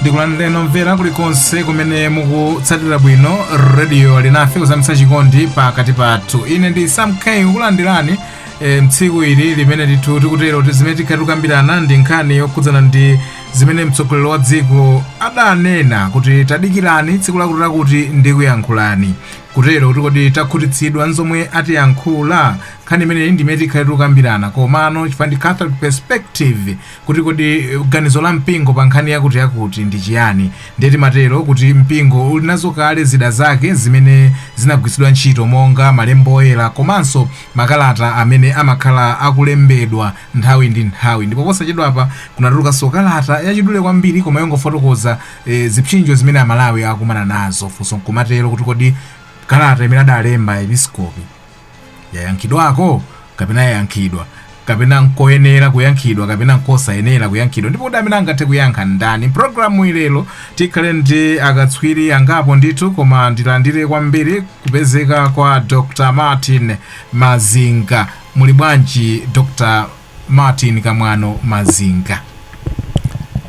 ndikulandireni omvera kulikonse kumene mukutsatira bwino rediyo alinafe kuzamitsa chikondi pakati pathu ine ndi sam k nkukulandirani e, mtsiku ili limene ndithu tikutero ti- zimene tikhale tikukambirana ndi nkhani yokhudzana ndi zimene mtsogoleri wa dziko adanena kuti tadikirani tsiku lakuti lakuti ndikuyankhulani Kutero kuti kodi takhutitsidwa nzomwe atiyankhula? Nkhani imeneyi ndi imene tikhale tikukambirana komano chifukwa ndi Catholic Perspective kuti kodi ganizo la mpingo pa nkhani yakuti yakuti ndi chiyani ndiye timatero kuti mpingo uli nazo kale zida zake zimene zimagwiritsidwa ntchito monga malembo oyera komanso makalata amene amakhala akulembedwa nthawi ndi nthawi ndipo posachedwapa kunatulukanso kalata yachidule kwambiri koma yongofotokoza e, zipsinjo zimene amalawi akumana nazo funso nkumatero kuti kodi kalata imene adalemba aepiskopi yayankhidwako kapena yayankhidwa kapena nkoyenera kuyankhidwa kapena nkosayenera kuyankhidwa ndipo kuti amene angathe kuyankha ndani mprogramu yalero tikhale ndi akatswiri angapo ndithu koma ndilandire kwambiri kupezeka kwa dr martin mazinga muli bwanji dr Martin Kamwano Mazinga.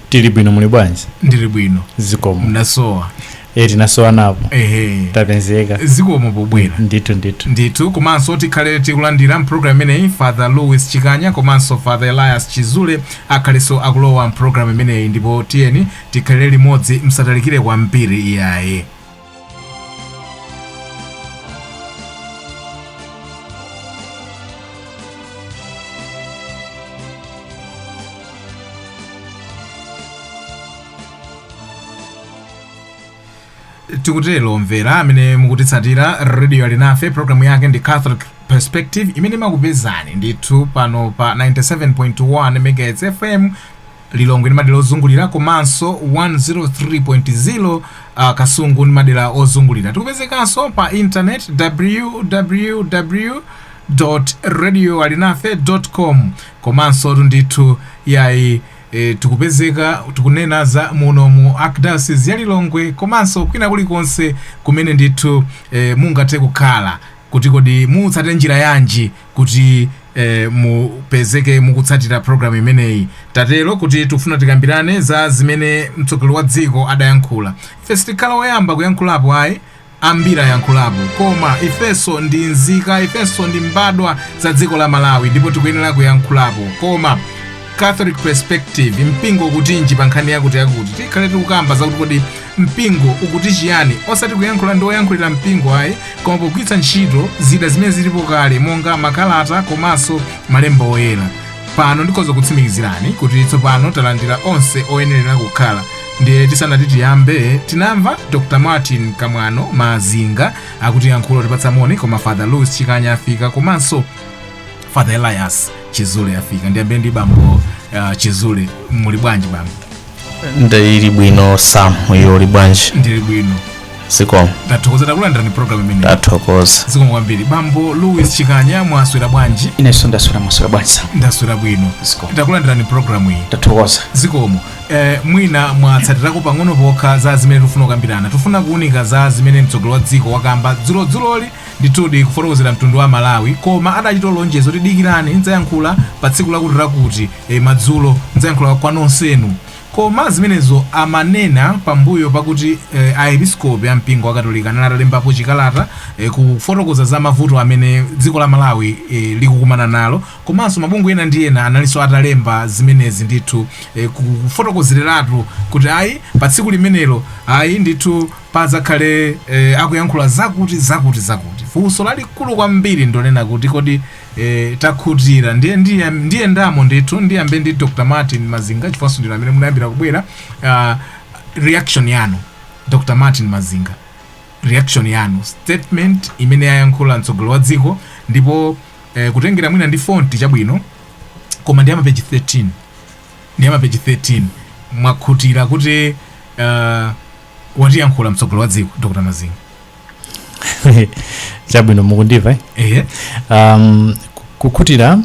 Tili bwino muli bwanji? Ndili bwino. Zikomo. Mnasowa. Eh tinasowa napo. Ehe. Tapezeka. Zikomo pobwera. Ndithu ndithu. Ndithu komanso tikhale tikulandira mprogram imeneyi Father Louis Chikanya komanso Father Elias Chizule akhalenso akulowa mprogram imeneyi ndipo tiyeni tikhalire limodzi msatalikire kwambiri iyayi. tikutero omvera amene mukutitsatira radio alinafe programu yake ndi catholic perspective imene imakupezani ndithu pano pa 97.1 megahertz fm Lilongwe ndi madera ozungulira komanso 103.0 uh, Kasungu ndi madera ozungulira. Tikupezekanso pa internet www radio alinafe com komanso tu ndithu yayi e, tikupezeka tikunena za muno mu archdiocese ya Lilongwe komanso kwina kulikonse kumene ndithu e, mungathe kukhala kuti kodi mutsate njira yanji kuti eh, mupezeke mukutsatira programu imeneyi tatero kuti tikufuna tikambirane za zimene mtsogoleri wa dziko adayankhula ife sitikhala woyamba kuyankhulapo ayi ambiri ayankhulapo koma ifenso ndi nzika ifenso ndi mbadwa za dziko la malawi ndipo tikuyenera kuyankhulapo koma catholic perspective mpingo ukutinji pa nkhani yakuti yakuti tikhale tikukamba zakuti kodi mpingo ukuti chiyani osati kuyankhula ndi oyankhulira mpingo ayi koma pogwiritsa ntchito zida zimene zilipo kale monga makalata komanso malemba oyera pano ndikhoza kutsimikizirani kuti tsopano talandira onse oyenerera kukhala ndiye tisanati tiyambe tinamva dr martin kamwano mazinga akuti yankhulo tipatsa moni koma father louis chikanya afika komanso father elias chizule afika ndiyambire ndi bambo uh, chizule muli bwanji bambo ndili bwino sam iwe uli bwanji ndili bwino zikomo tathokoza takulandirani programu imeneyi tathokoza zikomo kwambiri bambo louis chikanya mwaswera bwanji inenso ndaswera mwaswera bwanji sam ndaswera bwino Zikomo. takulandirani programu iyi tathokoza zikomo eh, mwina mwatsatirako pang'ono pokha za zimene tufuna kukambirana tufuna kuunika za zimene mtsogoleri wa dziko wakamba dzulodzuloli Ndithudi kufotokozera mtundu wa Amalawi koma adachita lonjezo kuti dikirani ndzayankhula pa tsiku lakutilakuti e, madzulo ndzayankhula kwa nonsenu. Koma zimenezo amanena pambuyo pakuti e, Aepiskopi a mpingo wa Katolika anali atalembapo chikalata e, kufotokoza za mavuto amene dziko la Malawi e, likukumana nalo komanso mabungwe ena ndi ena analinso atalemba zimenezi ndithu e, kufotokozereratu kuti ayi pa tsiku limenelo ayi ndithu padzakhale e, akuyankhula zakuti zakuti zakuti funso lalikulu kwambiri ndonena kuti kodi e, takhutira ndiye ndiye ndiye ndamo ndithu ndiyambe ndi dr martin mazinga chifukwanso ndinu amene munayambira kubwera uh, reaction yanu dr martin mazinga reaction yanu statement imene ayankhula mtsogoleri wa dziko ndipo eh, kutengera mwina ndi fonti chabwino koma ndi amapeji 13 ndi amapeji 13 mwakhutira kuti uh, watiyankhula mtsogoleri wa dziko dr mazinga chabwino mukundimva eh? ehe um, ku- kukhutira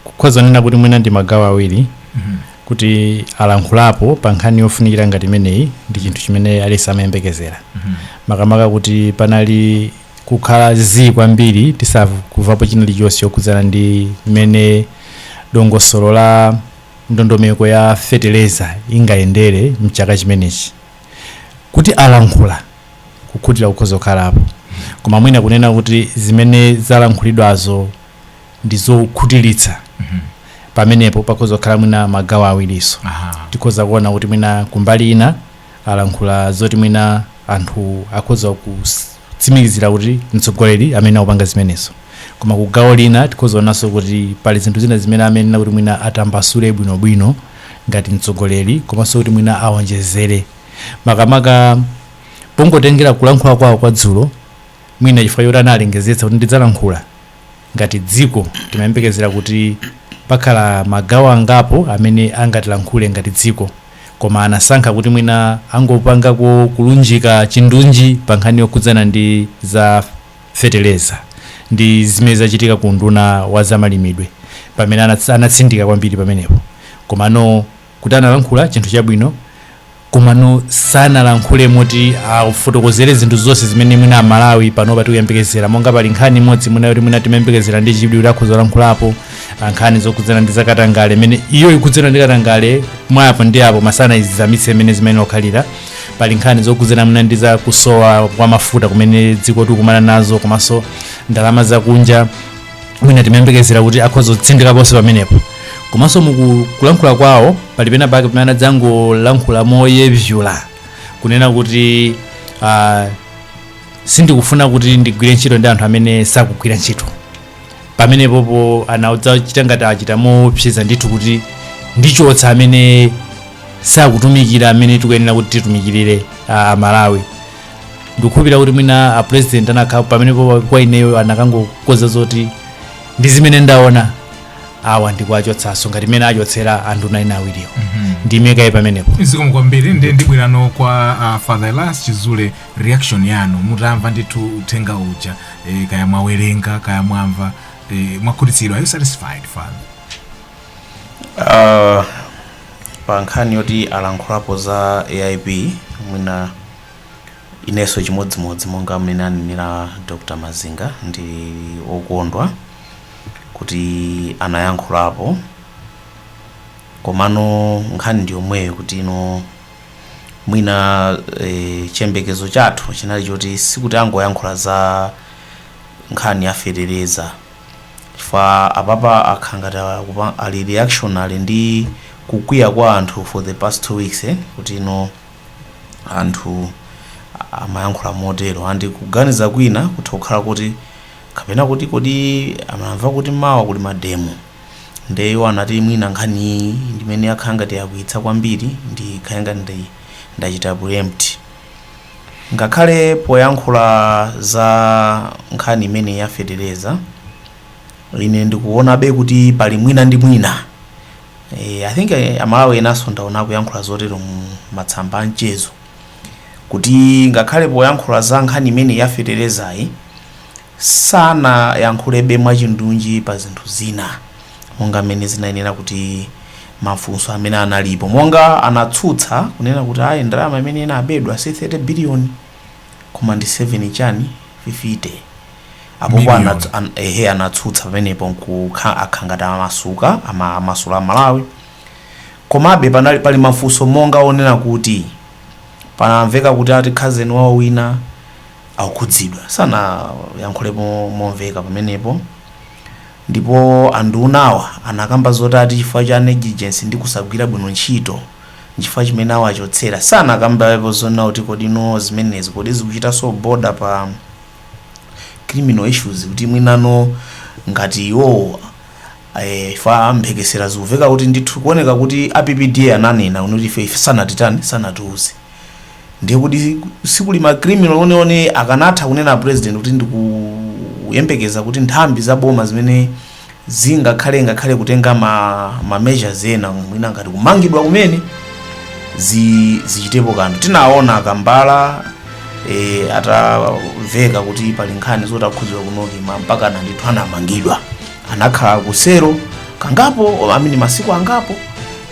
kukhoza kunena kuti mwina ndi magawo awiri Mhm. kuti alankhulapo pa nkhani yofunikira ngati imeneyi ndi chinthu chimene aliyense amayembekezera Mhm. makamaka kuti panali kukhala zii kwambiri tisakumvapo china chilichonse chokhudzana ndi mmene dongosolo la ndondomeko ya feteleza ingayendere mchaka chimenechi kuti alankhula kukhutira kukhoza kukhalapo koma mwina kunena kuti zimene zalankhulidwazo ndi zokhutiritsa pamenepo pakhoza kukhala mwina magawo awirinso Aha. tikhoza kuona kuti mwina kumbali ina alankhula zoti mwina anthu akhoza kutsimikizira kuti mtsogoleri amene akupanga zimenezo koma ku gawo lina tikhoza kuonanso kuti pali zinthu zina zimene amanena kuti mwina atambasule bwinobwino ngati mtsogoleri komanso kuti mwina awonjezere makamaka pongotengera kulankhula kwawo kwa dzulo mwina chifukwa chokuti analengezetsa kuti ndidzalankhula ngati dziko timayembekezera kuti pakhala magawo angapo amene angatilankhule ngati dziko koma anasankha kuti mwina angopangako kulunjika chindunji pa nkhani yokhudzana ndi za feteleza ndi zimene zachitika ku unduna wa zamalimidwe pamene anats- anatsindika kwambiri pamenepo komano kuti analankhula chinthu chabwino komano sanalankhule moti afotokozere zinthu zonse zimene mwina amalawi panopa tikuyembekezera monga pali nkhani imodzi mwina yoti mwina timayembekezera ndi chidwi kuti akhoza kulankhulapo ah, nkhani zokhudzana ndi zakatangale imene iyo ikhudzana ndi katangale mwapo ndi apo masana izizamitse imene zimene okhalira pali nkhani zokhudzana mwina ndi za kusowa kwa mafuta kumene dziko tikukumana nazo komanso ndalama zakunja mwina timayembekezera kuti akhoza kutsindikaponso pamenepo komanso mukulankhula kwawo pali pena pake pamene anadzangolankhula moyevyula kunena kuti uh, sindikufuna kuti ndigwire ntchito ndi anthu amene sakugwira ntchito pamenepopo anadzachita ngati achita moopseza ndithu kuti ndichotsa amene sakutumikira amene tikuyenera kuti titumikirire uh, amalawi ndikukhulupirira kuti mwina a president anakha pamenepo kwa ineyo anakangokonza zoti ndi zimene ndaona awa ndikuwachotsanso ngati mmene achotsera anthu nawo awiriwo ndiime kaye pamenepo zikomo kwambiri ndi ndibwereno kwa uh, father elias chizule reaction yanu mutamva ndithu uthenga uja eh, kaya mwawerenga kaya mwamva eh, mwakhutitsidwa are you satisfied father Uh, pa nkhani yoti alankhulapo za aip mwina inenso chimodzimodzi monga mmene anenera dr mazinga ndi wokondwa kuti anayankhulapo komano nkhani ndi yomweyo kuti ino mwina e, chiyembekezo chathu chinali choti sikuti angoyankhula za nkhani ya fetereza chifukwa apapa akhala ngati akupa- ali reactionary ndi kukwiya kwa anthu for the past two weeks eh, kuti ino anthu a- amayankhula motero andi kuganiza kwina kutha kukhala kuti kapena kuti kodi amamva kuti mawa kuli mademo nde iwo anati mwina nkhani iyi ndimene yakhala ngati yakwiyitsa kwambiri ndikhale ngati ndachita preempt Ngakhale poyankhula za nkhani imeneyi ya fetereza, ine ndikuonabe kuti pali mwina ndi mwina e, I think eh, amalawi enanso ndaona akuyankhula zotero mu matsamba a mchezo kuti ngakhale poyankhula za nkhani imeneyi ya feterezayi sanayankhulebe mwachindunji pa zinthu zina monga mmene zinayenera kuti mafunso amene analipo monga anatsutsa kunena kuti ayi ndalama imene inabedwa si 30 biliyoni koma ndi 7 chani 50 point Million. anats- an, ehe anatsutsa pamenepo nkukhala ngati amasuka ama- amasula a Malawi komabe panali pali mafunso monga onena kuti panamveka kuti ati khazeni wawo wina akukhudzidwa sanayankhulepo momveka pamenepo ndipo andunawa anakamba zoti ati chifukwa cha negligence ndi kusagwira bwino ntchito nchifukwa chimene awachotsera sanakambepo zonena kuti kodi nanga zimenezi kodi zikuchitanso border pa criminal issues kuti mwinano ngati iwowo eh, paja mphekesera zikumveka kuti ndithu kuoneka kuti a PPDA ananena kunena kuti ife ife sanatitani sanatiuze ndiye kuti zikuli ma criminal ndiyeno akanatha kunena president kuti ndikuyembekeza kuti nthambi za boma zimene zingakhale ngakhale kutenga ma, ma measures ena mwina ngati kumangidwa kumene zi, zichitepo kanthu tinaona a Kambala e, atamveka kuti pali nkhani zoti akhudzidwa ku NOCMA mpaka anandithu anamangidwa anakhala ku cell kangapo I mean masiku angapo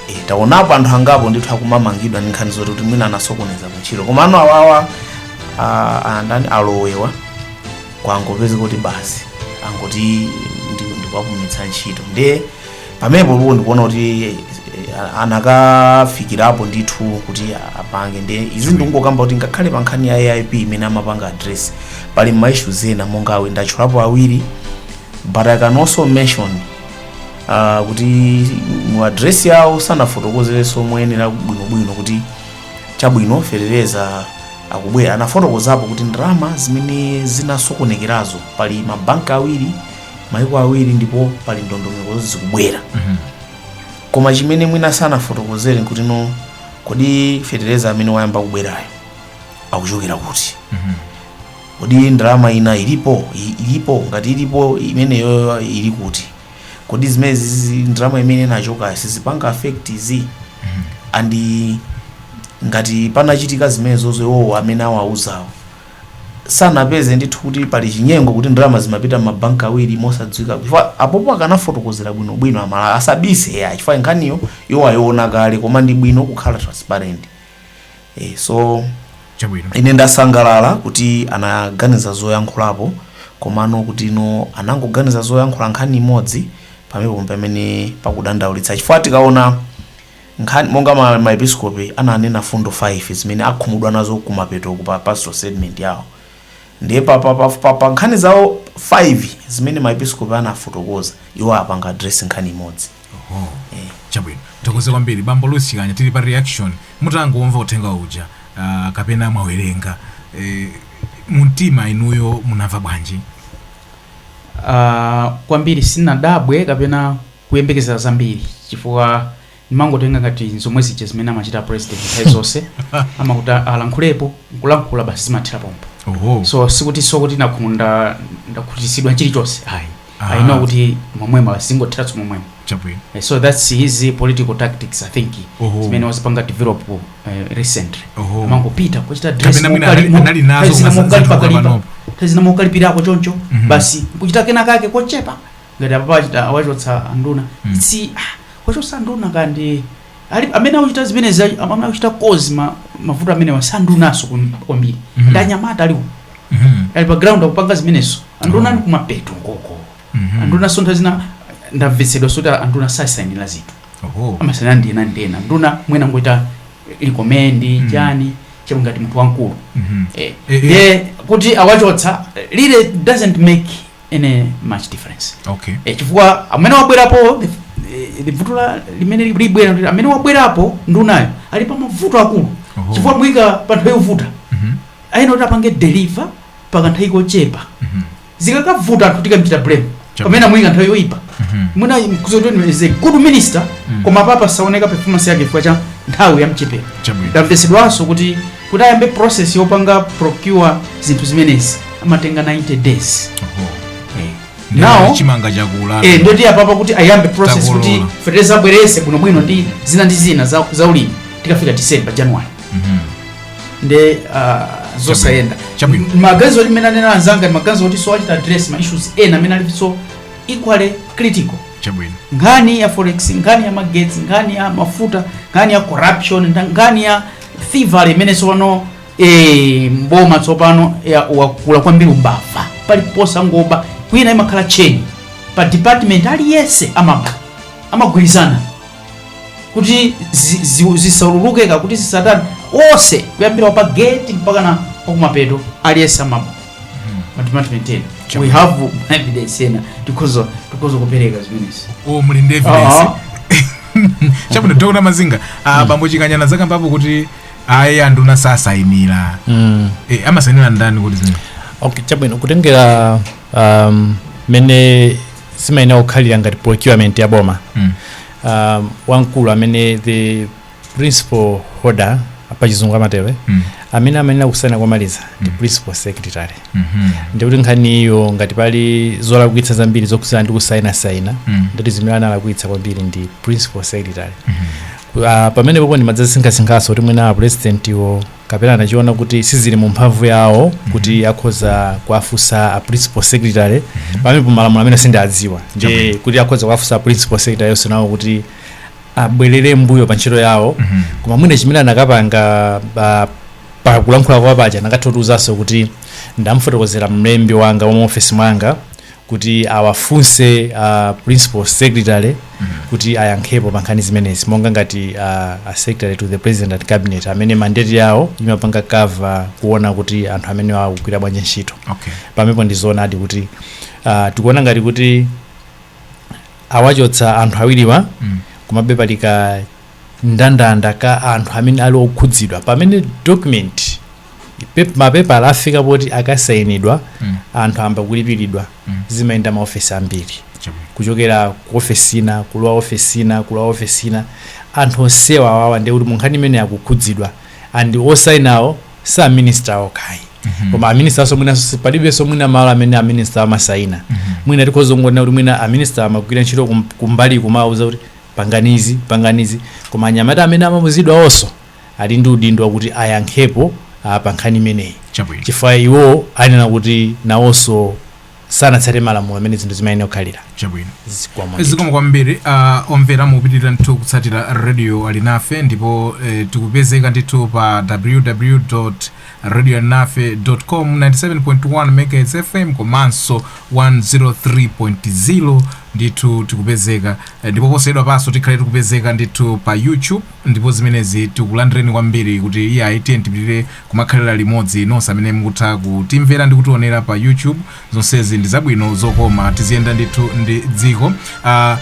E, taonapo anthu angapo ndithu akumamangidwa ndi nkhani zoti kuti mwina anasokoneza kuntchito komano awawa a- andani a Lowe wa kwangopezeka kuti basi angoti ndi- ndikuwapumitsa ntchito ndiye pamenepo ndipo ndikuona kuti eh, eh, anakafikapo ndithu kuti apange ndiye izi ndikungokamba kuti ngakhale pa nkhani ya AIP imene amapanga address pali ma issues ena monga awa ndatchulapo awiri but I can also mention uh, kuti mu address yawo sanafotokozerenso moyenera bwinobwino kuti chabwino fetereza akubwera anafotokozapo kuti ndalama zimene zinasokonekerazo pali mabanki awiri maiko awiri ndipo pali ndondomeko zoti zikubwera koma chimene mwina sanafotokozere nkuti no kodi fetereza amene wayamba kubwerayo akuchokera kuti kodi ndalama ina ilipo I- ilipo ngati ilipo imeneyo ili kuti kodi zimenezizi ndalama imene inachoka sizipanga affect izi and ngati panachitika zimenezozo iwowo amene awauzawo sanapeze ndithu kuti pali chinyengo kuti ndalama zimapita m'mabanki awiri mosadziwika chifukwa apopo akanafotokozera bwinobwino a Malawi asabise eya chifukwa nkhaniyo iwo ayiona kale koma ndi bwino kukhala transparent e, so chabwino ine ndasangalala kuti anaganiza zoyankhulapo komano kuti ino anangoganiza zoyankhula nkhani imodzi pamene pomwe pamene pakudandaulitsa chifukwa tikaona nkhani monga ma- maepiskopi ananena mfundo 5 zimene akhumudwa nazo kumapeto pa pastoral statement yawo ndiye pa, pa, pa, pa, pa nkhani zawo 5 zimene maepiskopi anafotokoza iwo apanga address nkhani imodzi Oho. Eh. chabwino tithokoze kwambiri bambo luis chikanya tili pa reaction mutangomva uthenga uja ah, kapena mwawerenga eh, mumtima inuyo munamva bwanji Ah, kwambiri sinadabwe kapena kuyembekezera zambiri chifukwa ndimangotenga ngati zomwe zija zimene amachita president nthawi zonse amakuti alankhulepo nkulankhula basi zimathera pompo oho so sikuti sokuti ndakhumu ndakhutisidwa chilichonse ayi Ah. i know kuti momwemo zingotheranso momwemo chabwino Eh, so that's his political tactics i think Oho. zimene wazipanga develop uh, recently Oho. amangopita kuchita address Kapena mwina mokali- anali- anali nazo dress na koma mokalipa zinthu kalipa panopo. address na mokalipirako choncho Mhm. basi kuchita kena kake kochepa ngati apapa achita awachotsa anduna Mhm. si ah, wachotsa anduna kandi Alipo amene akuchita zimenezi ayi- amene akuchita cause ma, mavuto amenewa si andunanso kwambiri Mhm. ndi anyamata aliwo Mhm. ali pa ground akupanga zimenezo anduna ali kumapeto nkoko Mhm. anduna so nthawi zina ndamvetsedwanso kuti anduna sasainira zinthu Oho. amasaina ndi ena ndi ena nduna mwina angochita recommend Mhm. chani chero ngati munthu wamkulu Mhm. eh, Eh, eh. eh, kuti awachotsa really doesn't make any much difference okay e, chifukwa amene wabwerapo e, e, vuto la limene li- libwera ndi- amene wabwerapo ndunayo ali pa mavuto akulu Oho. chifukwa amuyika pa nthawi yovuta Mhm, ayenera kuti apange deliver pa kanthawi kochepa mhm, zikakavuta anthu tikamchita blame Chapa. pamene amuyika nthawi yoyipa mhm, mwina kuzotoni is a good minister Mm. koma apapa saoneka performance yake chifukwa cha nthawi yamchepera chabwino ndamvetsedwanso kuti Kuti ayambe process yopanga procure zinthu zimenezi amatenga 90 days. Oho. Eh. Ndipo Now chimanga chakula. eh nde kuti apapa kuti ayambe process Takolola. kuti fertilizer abweretse bwino bwino ndi zina ndi zina za, za ulimi tikafika December January. Mhm. nde uh, zosayenda Chabwino. maganizo oti mmene anena anzanga ndi maganizo oti so achita address ma issues ena amene alinso equally critical Chabwino. nkhani ya forex nkhani ya magetsi nkhani ya mafuta nkhani ya corruption nda- nkhani ya thievery imene tsopano eh, mboma tsopano ya- wakula kwambiri umbava paliponse angoba kwina imakhala chain pa department aliyense amaba amagwirizana kuti zi- zi- zisaululike kuti zisatani onse kuyambira wa pa gate mpakana wakumapeto aliyense amaba mu department ena we have evidence ena tikhoza tikhoza kupereka zimenezi o muli ndi evidence Ah, chabwino dr mazinga ah, bambo chikanyana akambapo kuti ayi anduna sasainira mm. Eh, amasainira ndani kuti zimene okay chabwino kutengera um, mene zimayenera kukhalira ngati procurement ya boma Mm. um, wamkulu amene the principal holder pachizungu amatero Mm. amene amayenera kusayina komaliza ndi principal secretary Mhm. ndikuti nkhani iyo ngati pali zolakwika zambiri zokhudzana ndi kusayinasayina Mm. ndiye kuti amene analakwitsa kwambiri ndi principal secretary uh, pamene pomwepo ndimadzasinkhasinkhanso kuti mwina apurezidentiwo kapena anachiona kuti sizili mu mphamvu yawo kuti akhoza kuwafunsa a principal secretary pamene pomalamulo amene sindiwadziwa ndi kuti akhoza kuwafunsa a principal secretary yonse nawo kuti abwerere mbuyo pa ntchito yawo Mhm. koma mwina chimene anakapanga pa- pa kulankhula kwa paja paja anakatha kutiuzanso kuti ndamfotokozera mlembi wanga wa maofesi mwanga kuti awafunse uh, principal secretary kuti ayankhepo pa nkhani zimenezi monga ngati uh, a secretary to the president and cabinet amene mandate yawo imapanga cover kuona kuti anthu amenewa akugwira bwanji ntchito okay pamenepo ndizoonadi kuti uh, tikuona ngati kuti awachotsa anthu awiriwa Mm. komabe pali ka ndandanda ka anthu amene ali okhudzidwa pamene document pep- mapepala afika poti akasainidwa Mm. anthu ayamba kulipiridwa Mm. zimayenda maofesi ambiri Chabwino. kuchokera ku ofesi ina kulowa ofesi ina kulowa ofesi ina anthu onsewa awawa ndekuti munkhani imeneyi akukhudzidwa and osainawo si a minister okha ayi koma a minister-nso mwina si- palibenso mwina malo amene a minister amasaina mwina tikhoza kungonena kuti mwina a minister amagwira ntchito kum- kumbali kumawauza kuti panganizi panganizi koma anyamata amene amauzidwawonso ali ndi udindo wakuti ayankhepo ah, pa nkhani imeneyi chabwino chifukwa iwo ayenera kuti nawonso sanatsate malamulo amene zinthu zimayenera kukhalira chabwino zikomo ndithu. zikomo kwambiri uh, omvera mukupitirira ndithu kutsatira radio alinafe ndipo eh, tikupezeka ndithu pa www radio alinafe com 97.1 megahertz fm komanso 103.0 ndithu tikupezeka Eh, ndipo posachedwapanso tikhale tikupezeka ndithu pa youtube ndipo zimenezi tikulandireni kwambiri kuti eya tiyeni tipitirire kumakhalira limodzi nonse amene mukutha kutimvera ndi kutionera pa youtube zonsezi ndi zabwino zokoma tiziyenda ndithu ndi dziko uh,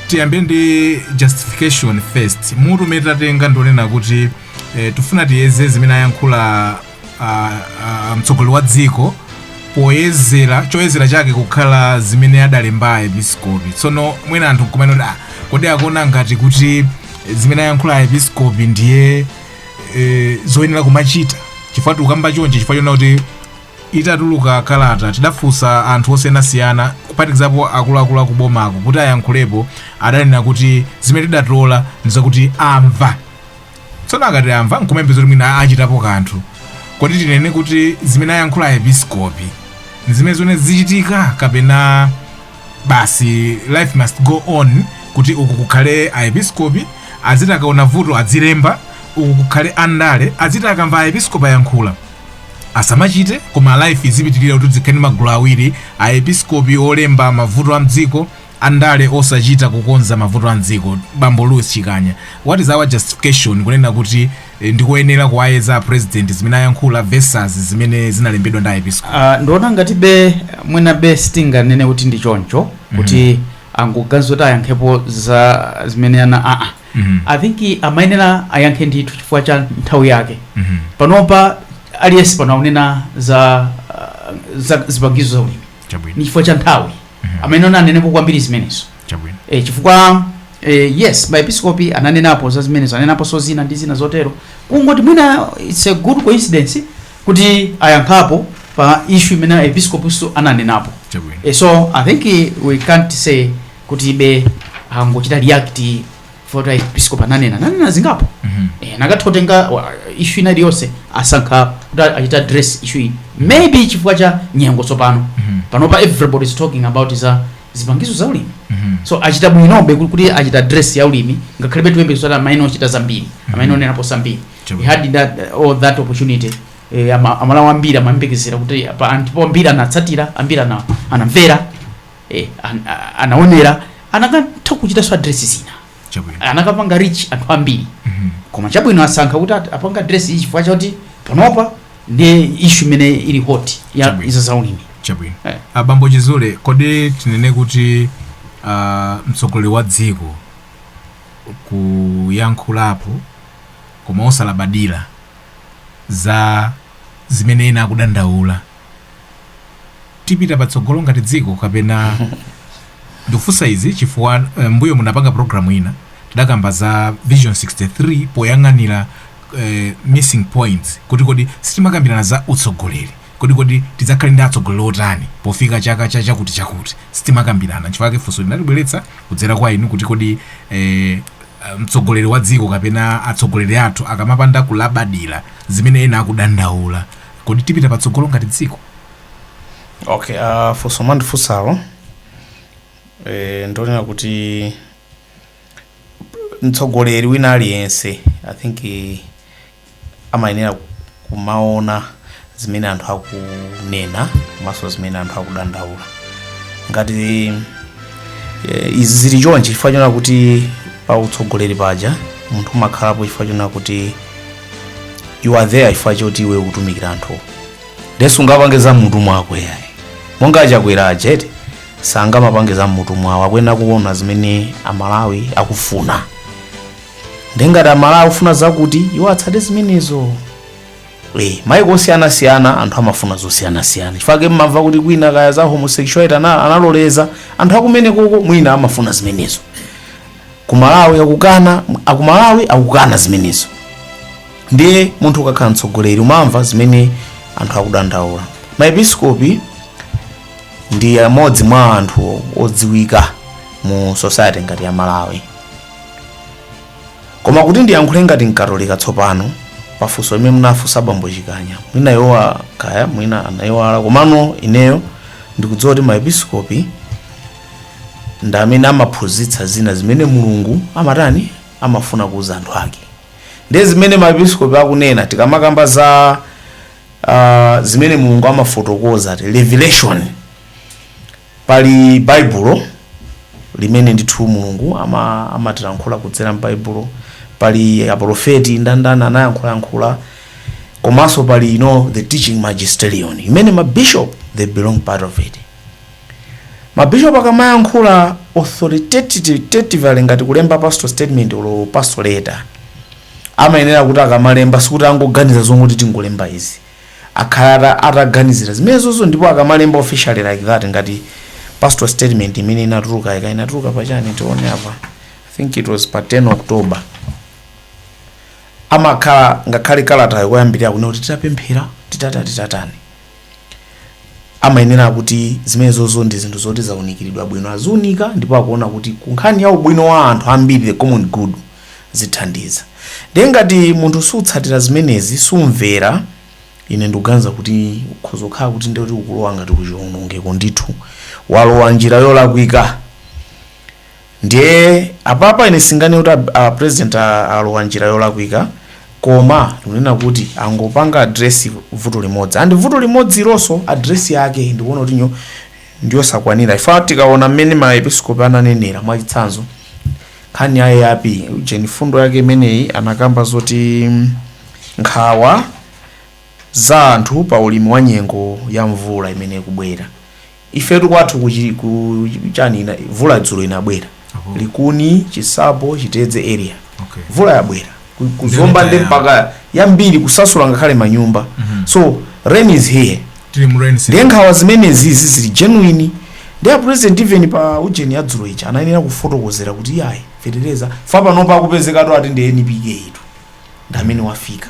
tiyambe ndi justification first mutu umene tatenga ndi wonena kuti eh, tifuna tiyeze zimene ayankhula uh, uh, mtsogoleri wa dziko poyezera choyezera chake kukhala zimene adalemba aepiskopi tsono mwina anthu nkumanena kuti ah, kodi akuona ngati kuti zimene ayankhula aepiskopi ndiye e, zoyenera kumachita chifukwa tikukamba chonchi chifukwa chona kuti itatuluka kalata tidafunsa anthu osiyanasiyana kuphatikizapo akuluakulu akubomako kuti ayankhulepo adanena kuti zimene tidatola ndizakuti amva tsono akati amva nkuyembekeza kuti mwina achitapo kanthu kodi tinene kuti zimene ayankhula aepiskopi ndi zimene zoona zichitika kapena basi life must go on kuti uku kukhale aepiskopi adziti akaona vuto adzilemba uku kukhale andale adziti akamva aepiskopi ayankhula asamachite koma life izipitirira kuti dzikhale ndi magulu awiri aepiskopi olemba mavuto a m'dziko andale osachita kukonza mavuto a m'dziko bambo louis chikanya what is our justification kunena kuti ndikoyenera kuwayeza a president zimene ayankhula versus zimene zinalembedwa ndi aepiskopi Uh, ndiona ngati be mwina be sitinganene kuti ndi choncho kuti angoganiza zoti ayankhepo za zimene ana aa Mhm. i think amayenera ayankhe ndithu chifukwa cha nthawi yake Mhm. panopa aliyense pano akunena za uh, za zipangizo za ulimi chabwino ni chifukwa cha nthawi amayenera anenepo kwambiri zimenezo chabwino e, chifukwa e, yes maepiskopi ananenapo za zimenezo ananenaponso zina ndi zina zotero kungoti mwina it's a good coincidence kuti ayankhapo pa issue imene aepiskopiso ananenapo chabwino e, so i think eh, we can't say kuti ibe angochita react poti aepiskopi ananena ananena zingapo Mhm. e, anakatha kutenga wa- issue ina iliyonse asankha kuti achita address issue iyi maybe chifukwa cha nyengo tsopano Mhm. panopa everybody is talking about za zipangizo za ulimi so achita bwinobe kuti- kuti achita address ya ulimi ngakhalebe tikuyembekeza zoti amayenera kuchita zambiri amayenera kunenapo zambiri Chabwino. we had that, all that opportunity eh, ama- amalawi ambiri amayembekezera kuti apa anthu po ambiri anatsatira ambiri ana- anamvera eh, an- a- anaonera anakatha kuchitanso address zina chabwino anakapanga reach anthu ambiri Mhm. koma chabwino asankha kuti at- apanga address iyi chifukwa chakuti panopa ndi issue imene ili hot ya Chabwino. izo zaulimi chabwino Eh. abambo chizule kodi tinene kuti ah, mtsogoleri wa dziko kuyankhulapo koma osalabadira za zimene ena akudandaula tipita patsogolo ngati dziko kapena ndikufunsa izi chifukwa eh, mbuyo munapanga programu ina tidakamba za vision 63 poyang'anira eh, missing points kuti kodi sitimakambirana za utsogoleri kodi kodi tidzakhale ndi atsogoleri otani pofika chaka cha chakuti chakuti sitimakambirana chifukwa ake funso tinalibweretsa kudzera kwa inu kuti kodi eh, mtsogoleri wa dziko kapena atsogoleri athu akamapanda kulabadira zimene ena akudandaula kodi tipita patsogolo ngati dziko okay uh, funso mwandifunsalo eh, ndonena kuti mtsogoleri wina aliyense i think eh, amayenera kumaona zimene anthu akunena komanso zimene anthu akudandaula ngati eh, izi zili chonchi chifukwa chonena kuti pa utsogoleri paja munthu umakhalapo chifukwa chonena kuti you are there chifukwa choti iwe ukutumikira anthu nde sungapange za m'mutu mwako yayi monga achakwera ajeni sangamapange za m'mutu mwawo akuyenera kuona zimene amalawi akufuna nde ngati amalawi akufuna zakuti iwo atsate zimenezo Eh, maiko osiyanasiyana anthu amafuna zosiyanasiyana chifukwa mumamva kuti kwina kaya za homosexuality ana- analoleza anthu a kumenekoko mwina amafuna zimenezo kumalawi akukana akumalawi akukana zimenezo ndiye munthu ukakhala mtsogoleri umamva zimene anthu akudandaula maepiskopi ndi amodzi mwa anthu odziwika mu society ngati ya malawi koma kuti ndiyankhule ngati mkatolika tsopano pafunso limene munafunsa bambo chikanya mwina aiwa kaya mwina anaiwala komano ineyo ndikudziwa kuti maepiskopi ndi amene amaphunzitsa zina zimene mulungu amatani amafuna kuuza anthu ake ndiye zimene maepiskopi akunena tikamakamba za uh, zimene mulungu amafotokoza ati revelation pali baibulo limene ndithu mulungu ama- amatilankhula kudzera m'baibulo pali aprofeti ndandana anayankhulayankhula komanso pali you know, the teaching magisterium imene mabishop they belong part of it Ma bishop akamayankhula authoritatively ngati kulemba pastoral statement olo pastoral letter amayenera kuti akamalemba sikuti angoganiza zongoti tingolemba izi akhala ata, ataganizira zimenezozo ndipo akamalemba officially like that ngati pastoral statement imene inatuluka ika inatuluka pachani tione apa i think it was pa 10 october amakhala ngakhale kalatayo koyambirira kunena kuti titapemphera titata titatani amayenera kuti zimenezozo ndi zinthu zoti zaunikiridwa bwino aziunika ndipo akuona kuti ku nkhani ya ubwino wa anthu ambiri the common good zithandiza ndiye ngati munthu sutsatira zimenezi sumvera ine ndikuganiza kuti ukhoza kukhala kuti ndikuti ukulowa ngati kuchiwonongeko ndithu walowa njira yolakwika Ndiye apapa ine singane kuti a president alowa njira yolakwika koma ndikunena kuti angopanga address vuto limodzi and vuto limodzi ilonso address yake ndikuona kuti nyo ndiyosakwanira chifukwa tikaona mmene maepiskopi ananenera mwachitsanzo nkhani ya AIP ujeni mfundo yake imeneyi anakamba zoti mm, nkhawa za anthu pa ulimi wa nyengo ya mvula imene ikubwera Ifetu kwathu ku chi ku chani ina mvula dzulo inabwera Oho. likuni chinsapo chitedze area Okay. mvula yabwera Ku- ku zomba Ndio ndi itaya. mpaka yambiri kusasula ngakhale manyumba Mhm. so rain is here Tili mu rain season. ndiye nkhawa zimenezi zili genuine ndiye a president even pa ujeni ya dzulo ija anayenera kufotokozera kuti iyayi fetereza fa panopa akupezekatu ati ndi npk itu ndi amene wafika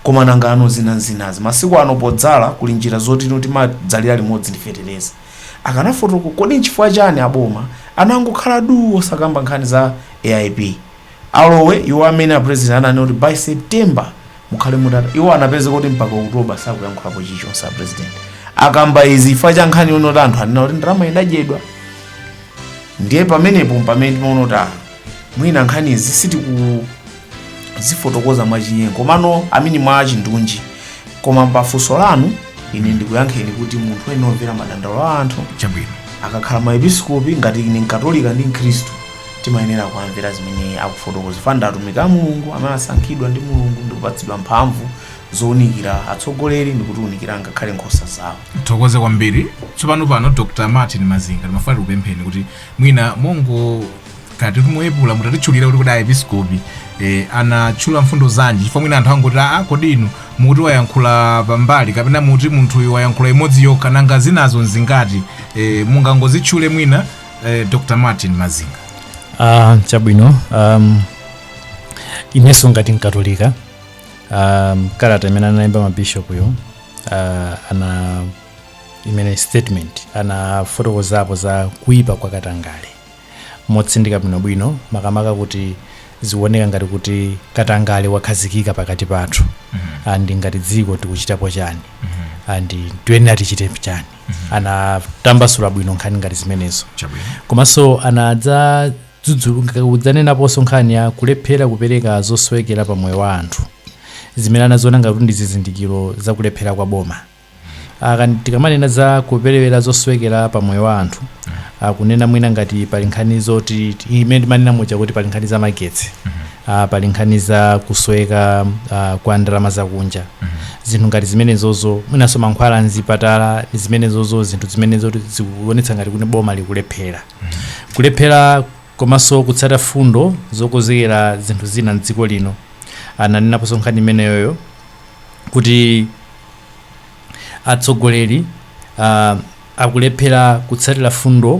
koma nangano zina zinazi masiku ano podzala kuli njira zoti ino timadzalira limodzi ndi fetereza akanafotokoza kodi nchifukwa chani aboma anangokhala duu osakamba nkhani za aip alowe iwo amene a president ananena kuti by september mukhale mutata iwo anapeza kuti mpaka oktoba sakuyankhulapo chilichonse a president akamba izi chifukwa cha nkhani yonoti anthu anena kuti ndalama idadyedwa ndiye pamenepo mpamene timaona kuti ah, mwina nkhani izi sitiku zifotokoza mwachinyengo komano I mean mwa chindunji koma pafunso lanu ine ndikuyankheni kuti munthu ene omvera madandaulo a anthu chabwino akakhala maepiskopi ngati ine mkatolika ndi mkhristu timayenera kuwamvera zimene akufotokoza chifukwa ndi atumiki a mulungu amene asankhidwa ndi mulungu ndikupatsidwa mphamvu zounikira atsogoleri ndikutiunikira ngakhale nkhosa zawo tithokoze kwambiri tsopano pano dr martin mazinga ndimafuna tikupempheni kuti mwina mongo kati kumwepula mutatitchulira kuti kodi aepiskopi eh, anatchula mfundo zanji chifukwa mwina anthu angoti aa kodi inu muti wayankhula pambali kapena muti munthuyu wayankhula imodzi yokha nanga zinazo nzingati eh, mungangozitchule mwina eh, dr martin mazinga Ah, chabwino um, inenso ngati mkatolika um, kalata imene analemba mabishopuyo uh, ana imene statement anafotokozapo za kuipa kwa katangale motsindika bwinobwino makamaka kuti zikuoneka ngati kuti katangale wakhazikika pakati pathu and ngati dziko tikuchitapo chani and tiyenera tichite chani anatambasula bwino nkhani ngati zimenezo chabwino komanso anadza kudzanenaponso nkhani ya kulephera kupereka zosowekera pa moyo wa anthu zimene anaziona ngati ndi zizindikiro za kulephera kwa boma aka tikamanena za kuperewera zosowekera pa moyo wa anthu akunena mwina ngati pali nkhani zoti imene timanena muja kuti pali nkhani za magetsi ah, pali nkhani za kusoweka ah, kwa ndalama zakunja zinthu ngati zimenezozo mwinanso mankhwala mzipatala ndi zimenezozo zinthu zimenezo zikuonetsa ngati kuti boma likulephera kulephera komanso kutsata fundo zokonzekera zinthu zina mdziko lino ananenaponso nkhani imeneyoyo kuti atsogoleri uh, akulephera kutsatira fundo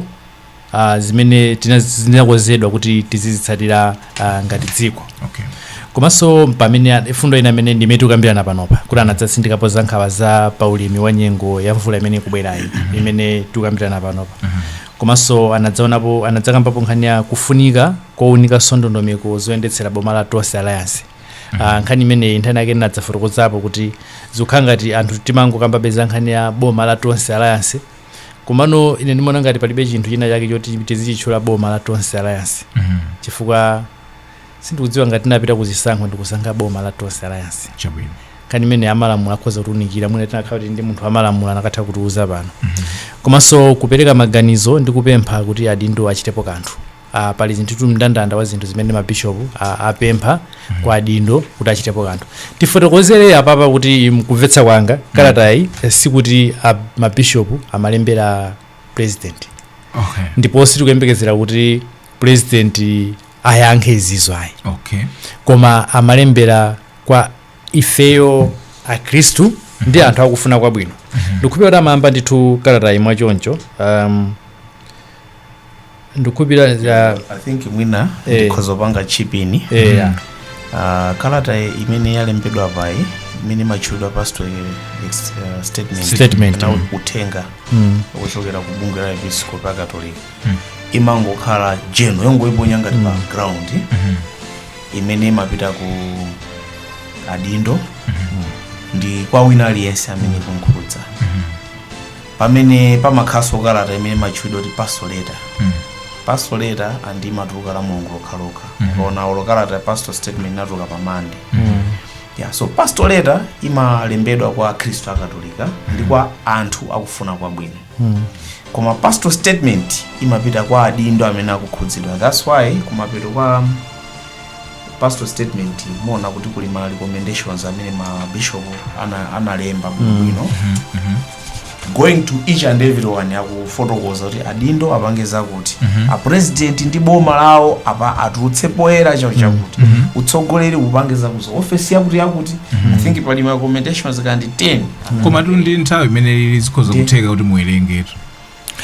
uh, zimene tina- zinakonzedwa kuti tizizitsatira uh, ngati dziko okay. komanso pamene a- fundo ina imene ndimene tikukambirana panopa kuti anadzatsindikapo za nkhawa za paulimi wa nyengo ya mvula imene ikubwerayi imene tikukambirana panopa komanso anadzaonapo anadzakambapo nkhani ya kufunika kounika ndondomeko zoyendetsera boma la tonse alliance Ah, nkhani imeneyi nthawi inayake ndinadzafotokozapo kuti zikukhala ngati anthu timangokambabe za nkhani ya boma la tonse alliance komano ine ndimaona ngati palibe chinthu china chake choti tizichitchula boma la tonse alliance Mhm. chifukwa sindikudziwa ngati tinapita kuzisankho ndikusankha boma la tonse alliance chabwino nkhani imene amalamulo akhoza kutiunikira mwina tinakakhala kuti tili ndi munthu wamalamulo anakatha kutiuza pano komanso kupereka maganizo ndi kupempha kuti adindo achitepo kanthu Uh, pali zinthutu mndandanda wa zinthu zimene mabishopu uh, apempha kwa adindo kuti achitepo kanthu tifotokozere apapa kuti mkumvetsa kwanga kalatayi eh, sikuti ah, mabishopu amalembera president okay ndipo sitikuyembekezera kuti president ayankhe izizo ayi okay koma amalembera kwa ifeyo akhristu ndi anthu akufuna kwabwino ndikukhulupirira kuti amayamba ndithu kalatayi mwachoncho um, ndikukhulupirira ya- i think mwina Eh. ndikhoza kupanga chip in eh, ya. Ah, kalata imene yalembedwa apayi imene imatchulidwa pastoral s- eh, statement Statement, na mm. uthenga Mm. wochokera ku bungwe la ma episkopi akatolika imangokhala general yongoiponya ngati pa ground imene imapita ku adindo ndi kwa wina aliyense amene ikumkhudza pamene pamakhalanso kalata imene imatchulidwa kuti pastoral letter Mm. pastoral letter and imatuluka la mulungu lokhalokha Mhm. mukaona olo kalata ya pastoral statement inatuluka pa Monday yeah, so pastoral letter imalembedwa kwa akhristu akatolika ndi kwa anthu akufuna kwabwino koma pastoral statement imapita kwa adindo amene akukhudzidwa that's why kumapeto kwa pastoral statement muona kuti kuli ma recommendations amene ma bishop ana- analemba bwinobwino going to each and everyone akufotokoza kuti adindo apange zakuti mm -hmm. apresident ndi boma lawo apa atulutse poyera chao chakuti mm -hmm. utsogoleri upange zakuti ofesi yakuti yakuti mm -hmm. i think pali ma recommendations kaya ndi 10 mm -hmm. komatu ndi nthawi imene lili zikhoza kutheka kuti muwerengetu